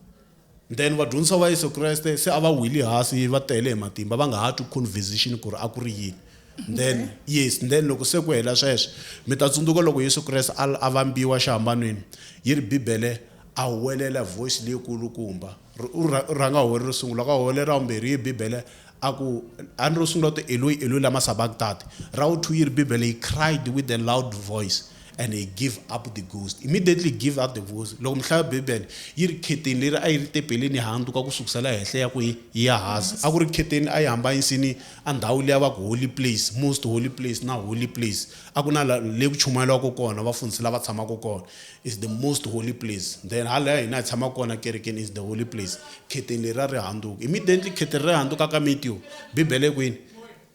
Then vadyondzisa va Yesu Kreste se a va wili hasi va tele hi matimba va nga ha twi conversation ku ri a ku ri yini. Then yes then loko se ku hela sweswo mi ta tsundzuka loko Yesu Kreste a a vambiwa xihambanweni yi ri Bibele a huwelela hi voice leyi kulukumba. Ri- u rha- u rhanga hole ro sungula ka hole ra vumbirhi yi bibele a ku a ni ro sungula u te eloi eloi lama sabakitati ra wu two yi ri bibele he cried with a loud voice and he give up the ghost immediately he give up the ghost loko mi hlaya bibele yi ri kheteni leri a yi ri tepeleni yi handzuka ku sukusela henhla ya ku yi yi ya hansi a ku ri kheteni a yi hamba yisini a ndhawu leyi a va ku holy place most holy place na holy place a ku na la- le ku chumayeliwaka kona vafundhisi lava tshamaka kona is the most holy place then hala ya hina hi tshama kona kerekeni is the holy place khetheni leri ra ri handuka immediately khetheni ri handuka ka mitiyo bibele kwini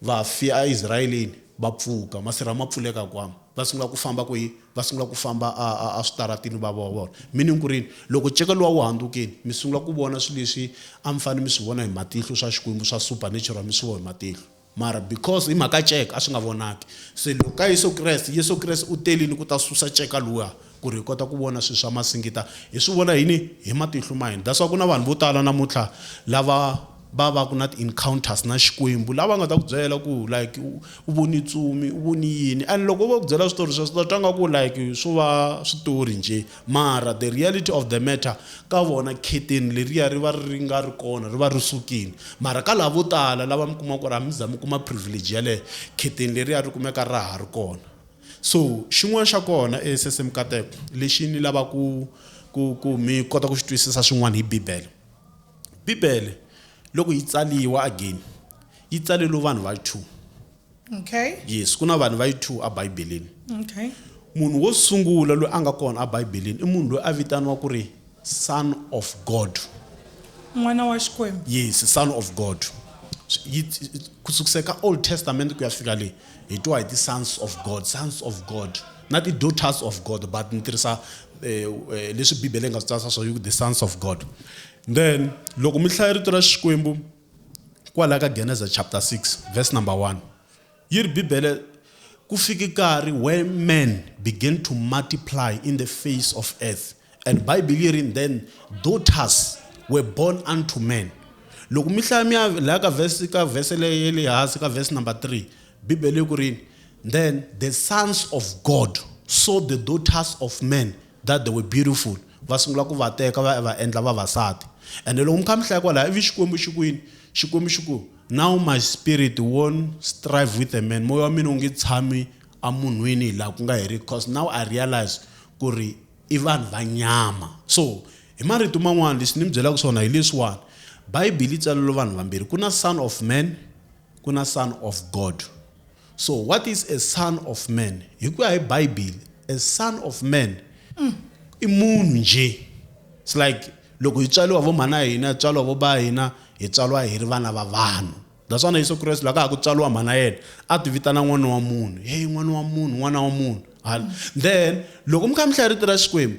vafi a israyeleni va pfuka masirha ma pfuleka kwama va sungula ku famba ku yi va sungula ku famba a a switaratini va va vona meaning ku rini loko nceka lowa wu handukeni mi sungula ku vona swilo leswi a mi fanele mi swi vona hi matihlo swa xikwembu swa supernatural mi swi vona hi matihlo Mara because hi mhaka ceka a swi nga vonaki. Se loko ka Yesu Kreste, Yesu Kreste u telini ku ta susa ceka luwa ku ri hi kota ku vona swilo swa masingita. Hi swi vona yini? Hi matihlo ma hina. That's why ku na vanhu vo tala namuntlha lava va va ku na ti-encounters na Xikwembu lava nga ta ku byela ku like u vone ntsumi, u vone yini and loko vo ku byela switori sweswo u ta twa nga ku like swo va switori njhe. Mara the reality of the matter ka vona curtain leriya ri va ri nga ri kona ri va ri sukile mara ka lava vo tala lava mi kuma ku ri a mi za mi kuma privilege yaleyo curtain leriya ri kumeka ra ha ri kona so xin'wana xa kona e sese mikateko lexi ni lava ku ku ku mi kota ku xi twisisa swin'wana hi bibele bibele loko yi tsaliwa again yi tsaleriwe vanhu va two okay. yes ku na vanhu va yi two ebibeleni okay. munhu wo sungula loyi a nga kona ebibeleni i munhu loyi a vitaniwa ku ri son of god n'wana wa xikwembu yes son of god ku sukisa ka old testament ku ya fika le hi twa hi ti-sons of god sons of god na ti-daughters of god but ni tirhisa eh, eh, leswi bibele yi nga swi tsarisa swa the sons of god then loko mi hlaya rito ra xikwembu Kwala ka Geneza chapter 6 verse number 1. Yi ri Bibele ku fike nkarhi where man began to multiply in the face of earth and Bible yi ri then daughters were born unto men. Loko mi hlaya mi ya laha ka verse ka verse leyi le hansi ka verse number 3 Bibele yi ku ri then the sons of God saw the daughters of men that they were beautiful va sungula ku va teka va ya va endla vavasati ende loko mi kha mi hlaya kwalaya ivi xikwembu xi ku yini xikwembu xi ku now my spirit won't strive with a man moya wa mina wu nge tshami emunhwini hi laha ku nga heriki because now i realize ku ri i vanhu va nyama so hi marito man'wana leswi ni mi byelaka swona hi leswiwani bayibele yi tsalelo vanhu vambirhi ku na son of man ku na son of god So what is a son of man? Hi ku ya hi Bibele, a son of man i munhu njhe. It's like loko hi tswaliwa vo mhana hina, tswaliwa vo ba hina, hi tswaliwa hi ri vana va vanhu. That's why na Yesu Kreste loko a ha ku tswaliwa mhana yena, a ti vitana n'wana wa munhu. Hey n'wana wa munhu, n'wana wa munhu. Then loko mi kha mi hlaya rito ra Xikwembu,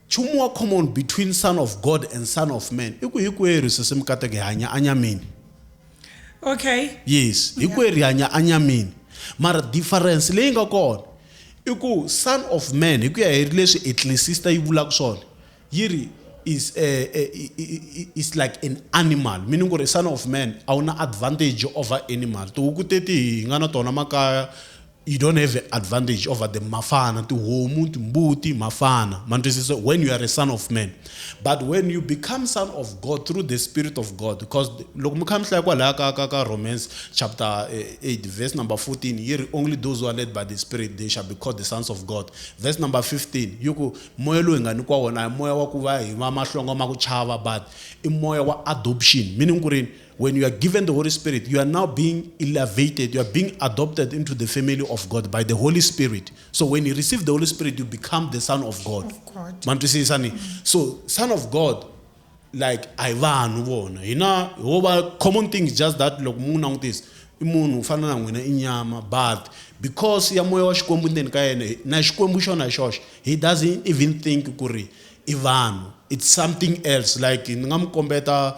Nchumu wa common between son of God and son of man i ku hikwerhu sesi mikateko hi hanya anyamini. Okay. Yes, hikwerhu hi hanya anyamini. Mara difference leyi nga kona i ku son of man hi ku ya hi leswi ecclesista yi vulaka swona yi ri is a, a, a, is like an animal meaning ku ri son of man a wu na advantage over animal tihuku teti hi nga na tona makaya you don't have an advantage over the mafana tihomu timbuti mafana mantwisiso when you are a son of man but when you become son of god through the spirit of god because loko mi kha mi hlaya kwalaya ka ka ka romans chapter 8 eh, verse number 14 yi ri only those who are led by the spirit they shall be called the sons of god verse number 15 yi ku moya lowu hi nga nyikiwa wona hi moya wa ku va hi va mahlonga ma ku chava but i moya wa adoption meaning ku rini When you are given the Holy Spirit, you are now being elevated, you are being adopted into the family of God by the Holy Spirit. So when you receive the Holy Spirit, you become the son of God. Of God. Mantwisisa ni? So son of God like a hi vanhu vona hina ho va common thing is just that loko mu n'wi langutisa i munhu u fana na n'wina i nyama but because ya moya wa xikwembu ndzeni ka yena na xikwembu xona hi xoxe he doesn't even think ku ri i vanhu it's something else like ni nga mi kombeta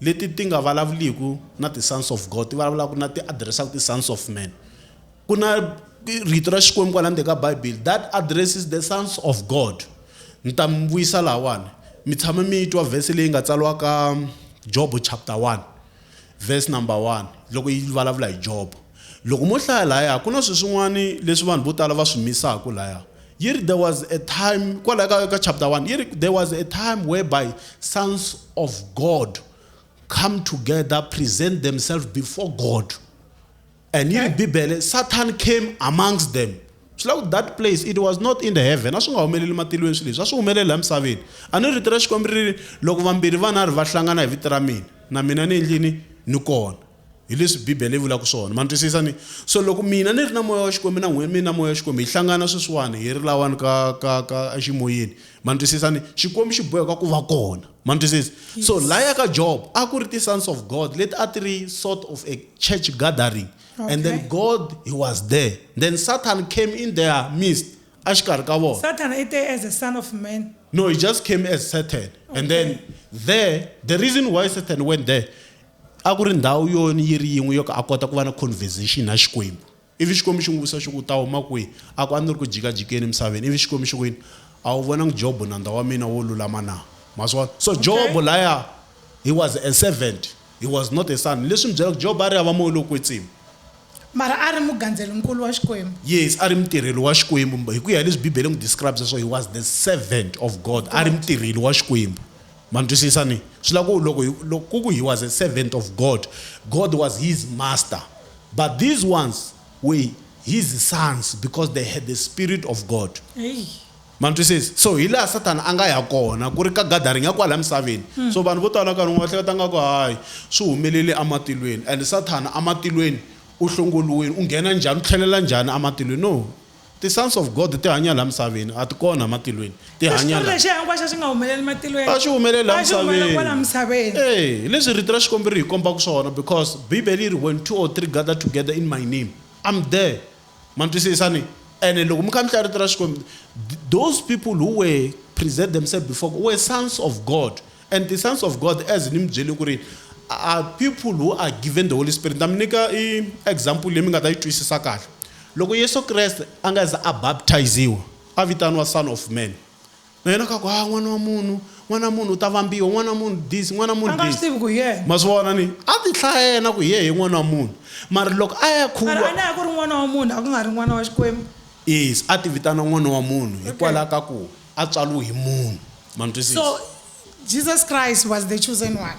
leti ti nga vulavuliku na ti-sons of God ti vulavulaku na ti address-aku ti-sons of man ku na rito ra Xikwembu kwala ndzeni ka Bibele that addresses the sons of God ni ta mi vuyisa lahawani mi tshama mi yi twa verse leyi nga tsariwa ka Jobo chapter 1 verse number 1 loko yi vulavula hi Jobo loko mo hlaya lahaya ku na sweswin'wani leswi vanhu vo tala va swi misaku lahaya yi ri there was a time kwalaho ka, ka chapter 1 yi ri there was a time whereby sons of god come together present themselves before god and yi ri bibele satan came amongst them swi la ku that place it was not in the heaven a swi nga humeleli matilweni swilo leswi a swi humelela emisaveni a ni rito ra xikwembu ri ri loko vambirhi vanharhu va hlangana hi vito ra mina na mina ni endlini ni kona Hi leswi Bibele yi vulaka swona. Ma ni twisisa? Ni. So loko mina ni ri na Moya wa Xikwembu na n'wina mi ri na Moya wa Xikwembu, hi hlangana sweswiwani hi ri lawani ka, ka, ka eximoyeni. Ma ni twisisa? Ni. Xikwembu xi boheka ku va kona. Ma ni twisisa? So lahaya ka Job, a ku ri ti-sons of God leti a ti ri sort of a church gathering. Okay. And then God, He was there. Then Satan came in their midst, exikarhi ka vona. Sathana i te as a son of man. No, he just came as Satan. And then there, the reason why Satan went there, A ku ri ndhawu yo yi ri yin'we yo ka a kota ku va na conversation na Xikwembu. Ivi Xikwembu xi n'wi vutisa xi ku, U ta huma kwihi? A ku, A ni ri ku jikajikeni emisaveni. Ivi Xikwembu xi ku yini? A wu vonangi Jobo nandza wa mina wo lulama na? Ma swi vona? So Okay. Jobo laya, he was a servant, he was not a son. Leswi mi byela ku Jobo a ri hava moya lowo kwetsima. Mara a ri mugandzeli-nkulu wa Xikwembu. Yes, a ri mutirheli wa Xikwembu. Hi ku ya hi leswi Bibele yi n'wi describe sweswo, he was the servant of God. A ri mutirheli wa Xikwembu. Ma ni twisisa? Ni swi lava ku loko hi, loko ku ku he was a servant of God, God was his master, but these ones were his sons because they had the Spirit of God. Eyi! Ma twisisa? So hi laha Sathana a nga ya kona, ku ri ka gathering ya kwalaya misaveni. So vanhu vo tala nkarhi wun'wana va hleketa nga ku hayi swi humelele ematilweni and Sathana ematilweni u hlongoliwile, u nghena njhani, u tlhelela njhani ematilweni. No! Ti sons of God ti hanya laha misaveni, a ti kona ematilweni, ti hanya Xitori laha. lexiya hinkwaxo a xi nga humeleli matilweni. A xi humeleli laha A xi humelela misaveni. kwala misaveni. E, hi leswi Rito ra Xikwembu ri hi kombaka swona because Bibele yi ri, When two or three gather together in my name, I'm there. Ma ni twisisa ni? Ene loko mi kambisisa Rito ra Xikwembu, th those people who were present themselves before God were sons of God. And the sons of God, as ni mi byele ku ri, are people who are given the Holy Spirit. Ni ta mi nyika i example leyi mi nga ta yi twisisa kahle. Loko Yesu Kreste a nga se za a baptize-iwa, a vitaniwa Son of Man. Na yena ka ku, Ha, n'wana wa munhu, n'wana wa munhu u ta vambiwa, n'wana wa munhu this, n'wana wa A munhu nga swi this. tivi ku hi yena. Ma swi vona ni? A ti hlaya yena ku hi yehe n'wana wa munhu. Mara loko a ya Mara a khuwa, ne a ku ri n'wana wa munhu, a ku nga ri n'wana wa Xikwembu. yes, a ti vitana n'wana wa munhu Okay. hikwalaho ka ku a tswariwe hi munhu. Ma ni So, twisisa? Jesus Christ was the chosen one.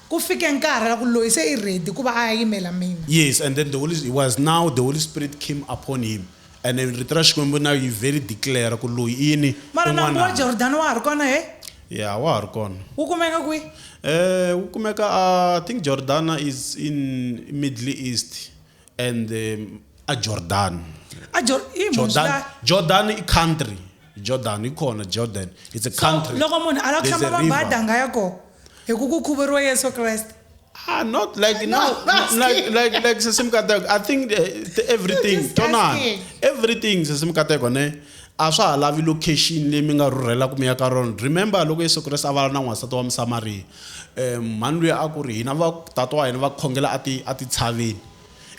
Ku fike nkarhi la ku loyi se i ready ku va a ya yimela mina. Yes and then the holy he was now the holy spirit came upon him and then rito ra Xikwembu now yi vhe ri declare ku loyi i yini? I Mara nambu wa n'wananga. Jordano wa ha ri kona he? Yeah wa ha ri kona. Wu kumeka kwi? Eh wu kumeka a I think Jordana is in Middle East and um, a Jordan a Jor i munhu Jordan swi nga- Jordan i country Jordan i kona Jordan it's a country loko munhu a lava ku There's hlamba a river. mabada a nga ya kona hi ku ku khuvuriwa yesu kreste ah not like No, no, I'm asking. like like like sesimkateko i think uh, th- everything Just tonana asking. everything sesimkateko ne a swa ha lavi location leyi mi nga rhurhela ku mi ya ka rona remember loko yesu kreste a vala na n'wansati wa musamaria Um mhani luya a ku ri, Hina va, tata wa hina va khongela ati, atitshaveni.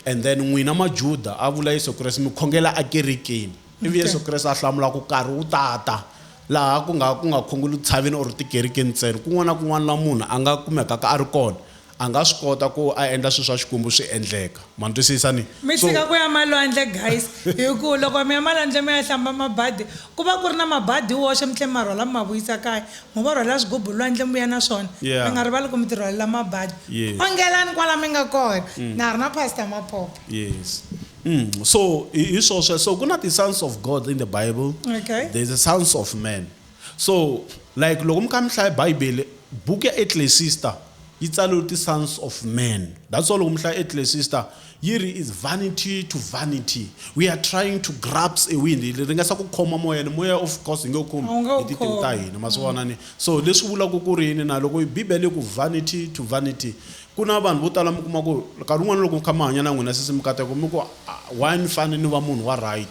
And then n'wina Majuda, a vula Yesu Kreste, mi khongela akerekeni. Ivi Yesu Kreste a hlamula a ku, Nkarhi wu ta ta laha ku nga, ku nga khongeliwi tshaveni or tikerekeni ntsena. Kun'wana na kun'wana laha munhu a nga kumekaka a ri kona, a nga swi kota ku a endla swilo swa Xikwembu swi endleka. Ma ni twisisa? Ni. Mi So. tshika ku ya malwandle, guys, hi ku loko mi ya malwandle mi ya hlamba mabadi, Ku va ku ri na mabadi hi woxe mi tlhe mi ma rhwala mi ma vuyisa kaya. Mo va rhwalela swigubu lwandle mi vuya na swona. Mi nga rivali ku mi tirhwalela mabadi. Ongelani kwala mi nga kona. Na ha ri na Pastor Mapopo. Yes. Umm so hi hi swo sweswo. Ku na ti sons of God in the Bible, there is a sons of man. So like loko mi kha mi hlaya Bibele, buku ya Eklesista yi tsariwe ti sons of man. That's why loko mi hlaya Eklesista, Yi ri is vanity to vanity we are trying to grabs a wind hi ringesa ku khoma moya ni moya of course hi nge wu khomi A wu nge wu hi tintiho ta khomi. hina ma swi vona ni so leswi vulaka ku ri yini na loko yi bibele yi ku vanity to vanity ku na vanhu vo tala mi kuma ku nkarhi wun'wana loko mi kha mi hanya na n'wina sesi mikateko mi ku "Ah, why ni fane ni va munhu wa right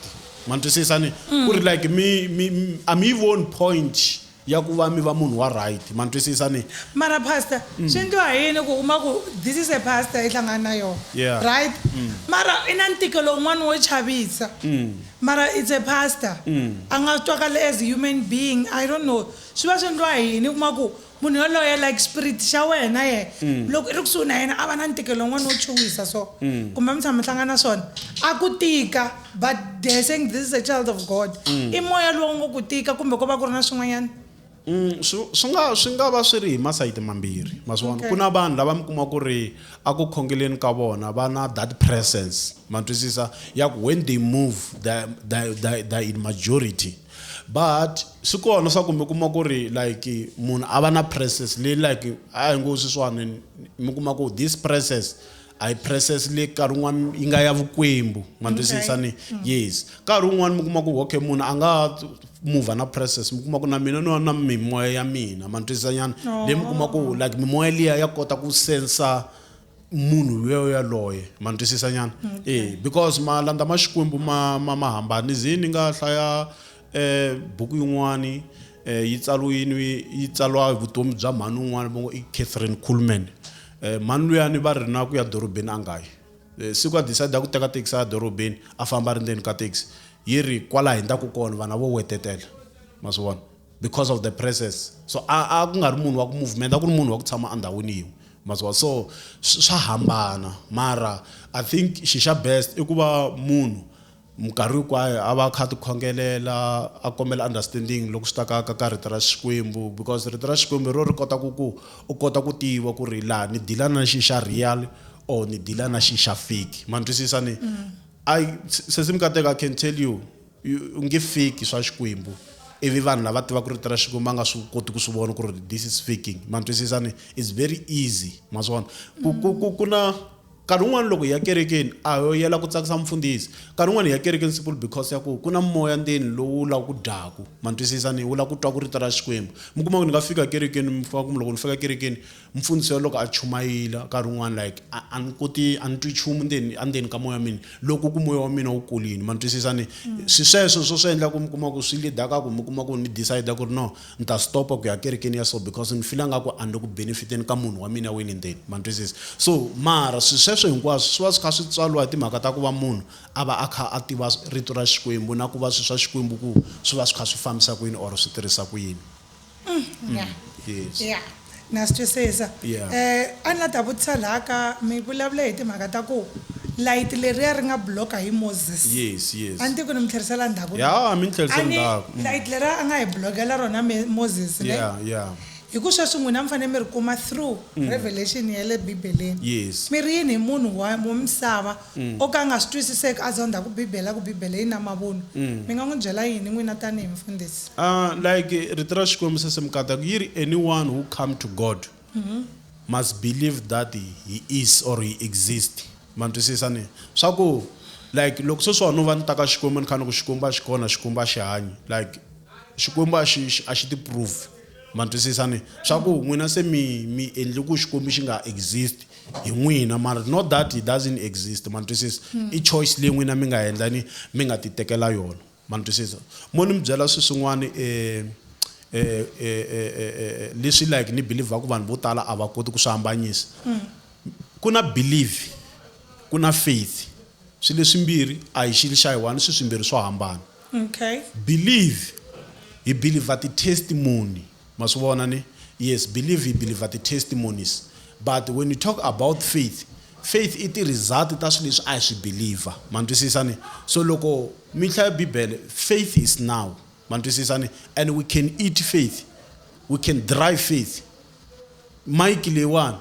ma ni twisisa ni ku ri like mi mi mi- a mi yi voni point ya ku va mi va munhu wa right ma ni twisisa ni mara pastor mm. swi endliwa hi yini ku uma ku this is a pastor i hlangana na yona yeah. right mm. mara i na ntikelo un'wana wo chavisa mm. mara it's a pastor mm. a nga twakali as human being i don't know swi va swi endliwa hi yini kuma ku munhu yoloye like spirit xa wena ye mm. loko i ri kusuhi na yena a va na ntikelo un'wana wo chuwisa so mm. kumbe mi tshama mi hlangana na swona a ku tika but they're saying this is a child of god mm. i moya lowu ngo ku tika kumbe ko va ku ri na swin'wanyana mm, swi nga swi nga va swi ri hi masayiti mambirhi maswona ku na vanhu lava mi kuma ku ri a ku khongeleni ka vona va na that presence ma twisisa ya ku when they move the in majority but swi kona swa ku mi kuma ku ri like munhu a va na presence leyi like a hi ngo swi swani mi kuma ku this presence a yi process leyi nkarhi wun'wana yi nga ya vukwembu ma twisisa ni mm. yes nkarhi wun'wana mi kuma ku okay munhu a nga move na process mi kuma ku na mina no na mimoya ya mina ma twisisa nyana oh. leyi mi kuma ku like mimoya liya ya kota ku sensa munhu loyo yaloye ma twisisa nyana mm, e because malanda ma xikwembu ma ma ma hambani zini nga hlaya E buku yin'wani e yi tsariwini yi tsariwa hi vutomi bya mhani un'wana va ngo i Catherine Kuhlman e mhani luyani va ri na ku ya dorobeni a nga yi e, siku a decide ku teka taxi a dorobeni a famba a ri ndzeni ka taxi yi ri kwala hindzaku kona vana vo wetetela ma swi vona because of the presence so a a ku nga ri munhu wa ku movement a ku ri munhu wa ku tshama endhawini yin'we ma swi vona so swa hambana mara i think xixa best i ku va munhu Minkarhi hinkwayo a va a kha a tikhongelela a kombela understanding loko swi ta ka ka ka rito ra Xikwembu because rito ra Xikwembu hi ro ri kota ku ku u kota ku tiva ku ri laha ni dila na xi xa real or ni dila na xi xa fake ma ni twisisa ni ai sesi Mikateko I can tell you u nge fake swa Xikwembu ivi vanhu lava tivaka rito ra Xikwembu va nga swi koti ku swi vona ku ri this is faking ma ni twisisa ni it's very easy ma swi vona ku ku ku ku na Nkarhi wun'wana loko hi ya kerekeni a ho yela ku tsakisa mufundhisi. Nkarhi wun'wana hi ya kerekeni simple because ya ku ku na moya ndzeni lowu wu lava ku dyaku. Ma ni twisisa ni? Wu lava ku twa ku rito ra Xikwembu. Mi kuma ku ni nga fika kerekeni mi kuma ku loko ni fika kerekeni mufundhisi wa loko a chumayila nkarhi wun'wana like a a ni koti a ni twi chumu ndzeni a ndzeni ka moya wa mina loko ku moya wa mina wu kolini. Ma ni twisisa ni? Swi sweswo swo swi endla ku mi kuma ku swi lead-a ka ku mi kuma ku ni decide ku ri no Ni ta stopa ku ya kerekeni ya so because ni fila nga ku a ni le ku benefiteni ka munhu wa mina wini ndzeni. Ma ni twisisa? So, mara swi sweswo hinkwaswo swi va swi kha swi tswariwa hi timhaka ta ku va munhu a va a kha a tiva Rito ra Xikwembu na ku va swilo swa Xikwembu ku swi va swi kha swi fambisa ku yini or swi tirhisa ku yini. Umm, ya. Yes. Ya. Na swi twisisa. Yeah. Eh, a ni la ta vutisa laha ka mi vulavule hi timhaka ta ku layiti leriya ri nga block-a hi Moses. Yes, yes. A ni tivi ku ni mi tlherisela ndzhaku. Ya, mi ni tlherise A ni ndzhaku. Mm. layiti leriya a nga hi block-ela rona Me- Moses ne? Yeah, yeah. Hi ku sweswi n'wina mi fanele mi ri kuma through revelation ya le Bibeleni. Yes. Mi ri yini hi munhu wa wa misava O ka a nga swi twisiseki a zondha ku Bibele, a ku, Bibele yi na mavunwa. Mi nga n'wi byela yini n'wina tanihi mufundhisi? Ah, like Rito ra Xikwembu se mikata ku yi ri, Anyone who come to God must believe that He is or He exist. Ma twisisa ne? Swa ku, like loko sweswiwa no va ni ta ka Xikwembu ni kha ni ku Xikwembu a xi kona, Xikwembu a xi hanyi, like Xikwembu a xi, a xi ti prove. Ma twisisa ne? Swa ku, n'wina se mi, mi endle ku Xikwembu xi nga exist. hi n'wina mara not that he doesn't exist ma ni twisisa hmm. i choice leyi n'wina mi nga endla ni mi nga ti tekela yona ma ni twisisa mo ni mi byela swi swin'wana um eh, eh, eh, leswi like ni believaku vanhu vo tala a va koti ku swi hambanyisa hmm. ku na believe ku na faith swi leswimbirhi a hi xilo xa hi one swi swimbirhi swo hambana okay believe hi believer ti-testimony Ma swi vona ni? Yes, believe hi believer ti testimonies but when you talk about faith, faith i ti result ta swi leswi a hi swi believer. Ma ni twisisa ni? So loko mi hlaya bibele, faith is now. Ma ni twisisa ni? And we can eat faith, we can drive faith. Mike leyiwani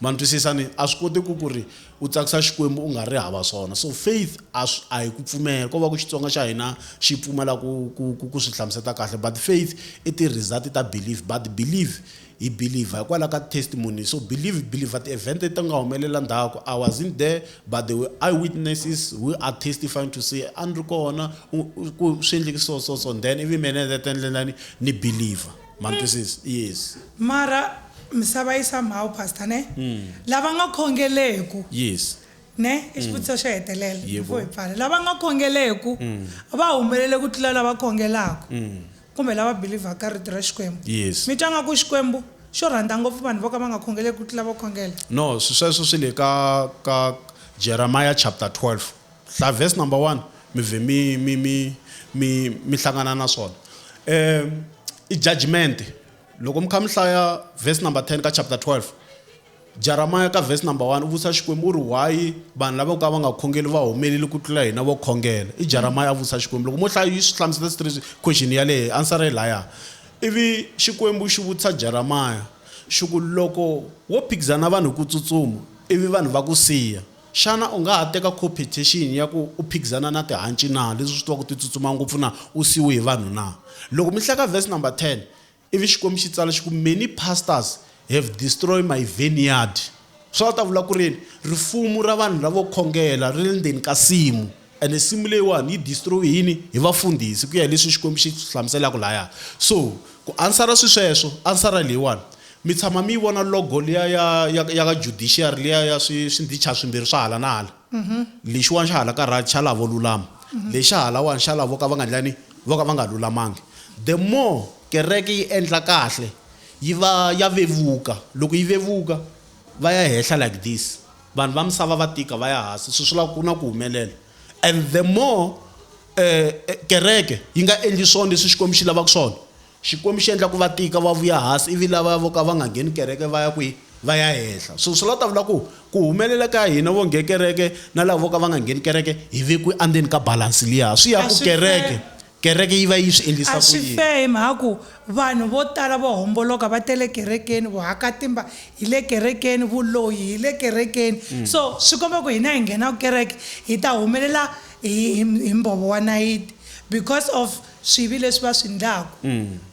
Ma ni twisisa? Ni a swi koteki ku ri u tsakisa Xikwembu u nga ri hava swona. So faith a swi a hi ku pfumela, ko va ku Xitsonga xa hina xi pfumala ku ku ku ku swi hlamuseta kahle but faith i ti result ta belief but believe hi believer hikwalaho ka testimony so believe believer ti event leti nga humelela ndzhaku I wasn't there but there were eye witnesses who are testifying to say a ni ri kona ku swi endleke so so so then ivi mina ni heta ni ni believer. Ma twisisa? Yes. Mara misava yi somehow pastor ne lava nga khongeleku Yes. ne i xivutiso xo hetelela Yebo. before hi pfala lava nga khongeleku va humelele ku tlula lava khongelaku kumbe lava believer ka rito ra xikwembu Yes. mi twa nga ku xikwembu xo rhandza ngopfu vanhu vo ka va nga khongeleku ku tlula vo khongela No, swi- sweswo swi le ka ka Jeremiah chapter 12. Hlaya verse number one mi vhe mi mi mi mi mi hlangana na swona um i judgment loko mi kha mi hlaya verse number 10 ka chapter 12 jaramaya ka verse number 1 u vutisa xikwembu u ri why vanhu lava ka va nga khongeli va humeleli ku tlula hina vo khongela i jaramaya a vutisa xikwembu loko mo hlaya yi swi hlamusela sitri question yaleyo answer yi laya ivi xikwembu xi vutisa jaramaya xi ku loko wo phikizana vanhu hi ku tsutsuma ivi vanhu va ku siya Xana u nga ha teka khophethexini ya ku u phikizana na tihanci na, leswi u swi twaka ti tsutsuma ngopfu na, u siyiwe hi vanhu na? Loko mi hlaya ka vhesi number 10, ivi Xikwembu xi tsala xi ku, Many pastors have destroy my vineyard, swa ta vula ku ri yini? Rifumu ra vanhu lavo khongela ri le ndzeni ka nsimu. Ene nsimu leyiwani yi destroy-we hi yini? Hi vafundhisi, ku ya hi leswi Xikwembu xi swi hlamuselaka lahaya. So, ku answer-a swisweswo, answer-a hi leyiwani, Mi tshama mi yi vona logo liya ya, ya, ya ka judiciary liya ya swi, swindhichana swimbirhi swa hala na hala? Lexiwani xa hala ka right xa lava vo lulama, lexi xa halawani xa lava vo ka va nga endlani? Vo ka va nga lulamangi. The more kereke yi endla kahle, yi va ya vevuka. Loko yi vevuka, va ya hehla like this. Vanhu va misava va tika va ya hasi swi swula ku na ku humelela and the more eh, kereke yi nga endli swona leswi xikwembu xi lavaka swona xikwembu xi endla ku va tika va vuya hasi ivi lava vo ka va nga ngheni kereke va ya kwihi va ya henhla so swi la ta vula ku ku humelela ka hina vo nge kereke na lava vo ka va nga ngheni kereke hi vekiwe andzeni ka balansi liya swi ya ku kereke Kereke yi va yi swi endlisa A ku swi yini? fair hi mhaka ku vanhu vo tala vo homboloka va tele kerekeni, vuhakatimba hi le kerekeni, vuloyi hi le kerekeni. So swi komba ku hina hi nghenaka kereke hi ta humelela hi hi hi mbhovo wa nayiti because of swivi leswi va swi ndlaku.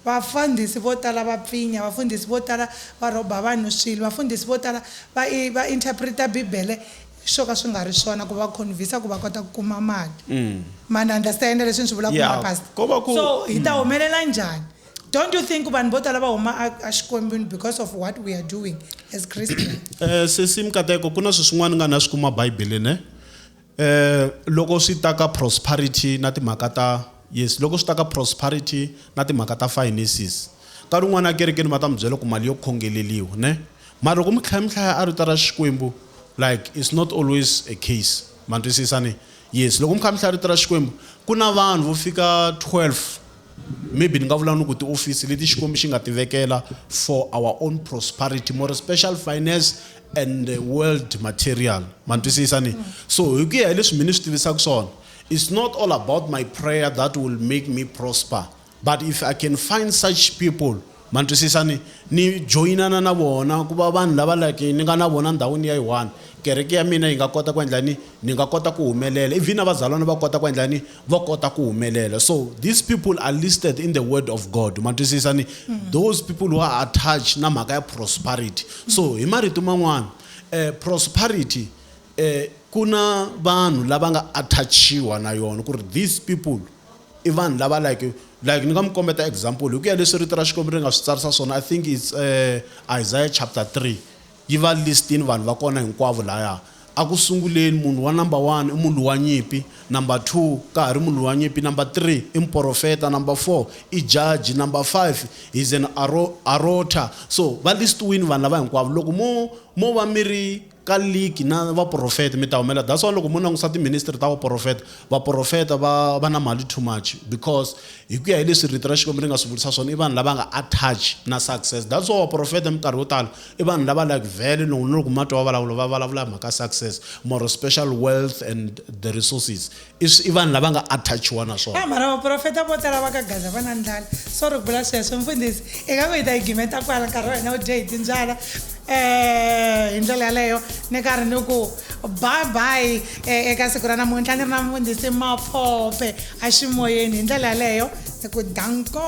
Vafundhisi vo tala va pfinya, vafundhisi vo tala va rhoba vanhu swilo, vafundhisi vo tala va i va interpret-a Bibele swo ka swi nga ri swona ku va convince ku va kota ku kuma mali ma ni understand leswi ni swi vulaka Yeah, kuma pastor ko va ku- so hi ta humelela njhani don't you think vanhu vo tala va huma a- a xikwembini because of what we are doing as christian Eh sesi mikateko ku na swilo swin'wana ni nga na swi kuma Bibele ne. Eh loko swi ta ka prosperity na timhaka ta Yes, loko swi ta ka prosperity na timhaka ta finances, nkarhi wun'wana ekerekeni va ta mi byela ku mali yo khongeleliwa ne, mara loko mi tlhela mi hlaya a rito ra Xikwembu like it's not always a case, ma ni twisisa ne? Yes, loko mi kha mi hlaya rito ra Xikwembu ku na vanhu vo fika 12 maybe ni nga vula ni ku tiofisi leti Xikwembu xi nga ti vekela for our own prosperity more special finance and world material, ma ni twisisa ne? So hi ku ya hi leswi mina ni swi tivisaka swona It's not all about my prayer that will make me prosper, but if I can find such people ma twisisa ni ni joyinana na vona ku va vanhu lava like ni nga na vona ndhawini ya yi-one kereke ya mina yi nga kota ku endla ni ni nga kota ku humelela even na vazalwana va kota ku endla ni va kota ku humelela so these people are listed in the word of god ma twisisa ni mm. those people who are attached na mhaka ya prosperity so hi marito man'wana um prosperity E, ku na vanhu lava nga attachiwa na yona ku ri these people i vanhu lava like like ni nga mi kombeta example hi ku ya leswi rito ra xikwembu ri nga swi tsarisa swona i think its uh, isaiah chapter 3 yi va listini vanhu va kona hinkwavo laya a ku sunguleni munhu wa number one i munhu wa nyimpi number two ka ha ri munhu wa nyimpi number three i muporofeta number four i jaji number five is an aro, arota so va listiwini vanhu lava hinkwavo loko mo mo va mi ri ka ligi na vaporofeti mi ta humela that's why loko mo langusa ti ministry ta vaporofeta vaporofeta va va na mali too much because hi ku ya hi leswi rito ra xikwembu ri nga swi vulisa swona i vanhu lava nga attach na success that's why vaporofeta minkarhi yo tala i vanhu lava like vele loko na loko ma twa va vulavula va vulavula hi mhaka success more special wealth and the resources i swi- i vanhu lava nga attachiwa na swona a mara vaprofeta vo tala va ka gaza va na ndlala sorry ku vula sweswo mfundhisi i nga ku hi ta yi gimeta kwala nkarhi wa hina wu dye hi timbyala um hi ndlela yaleyo ni karhi ni ku bye bye eh, eka siku ra namuntlha ni ri na mfundhisi maphope aximoyeni hi ndlela yaleyo ni ku danko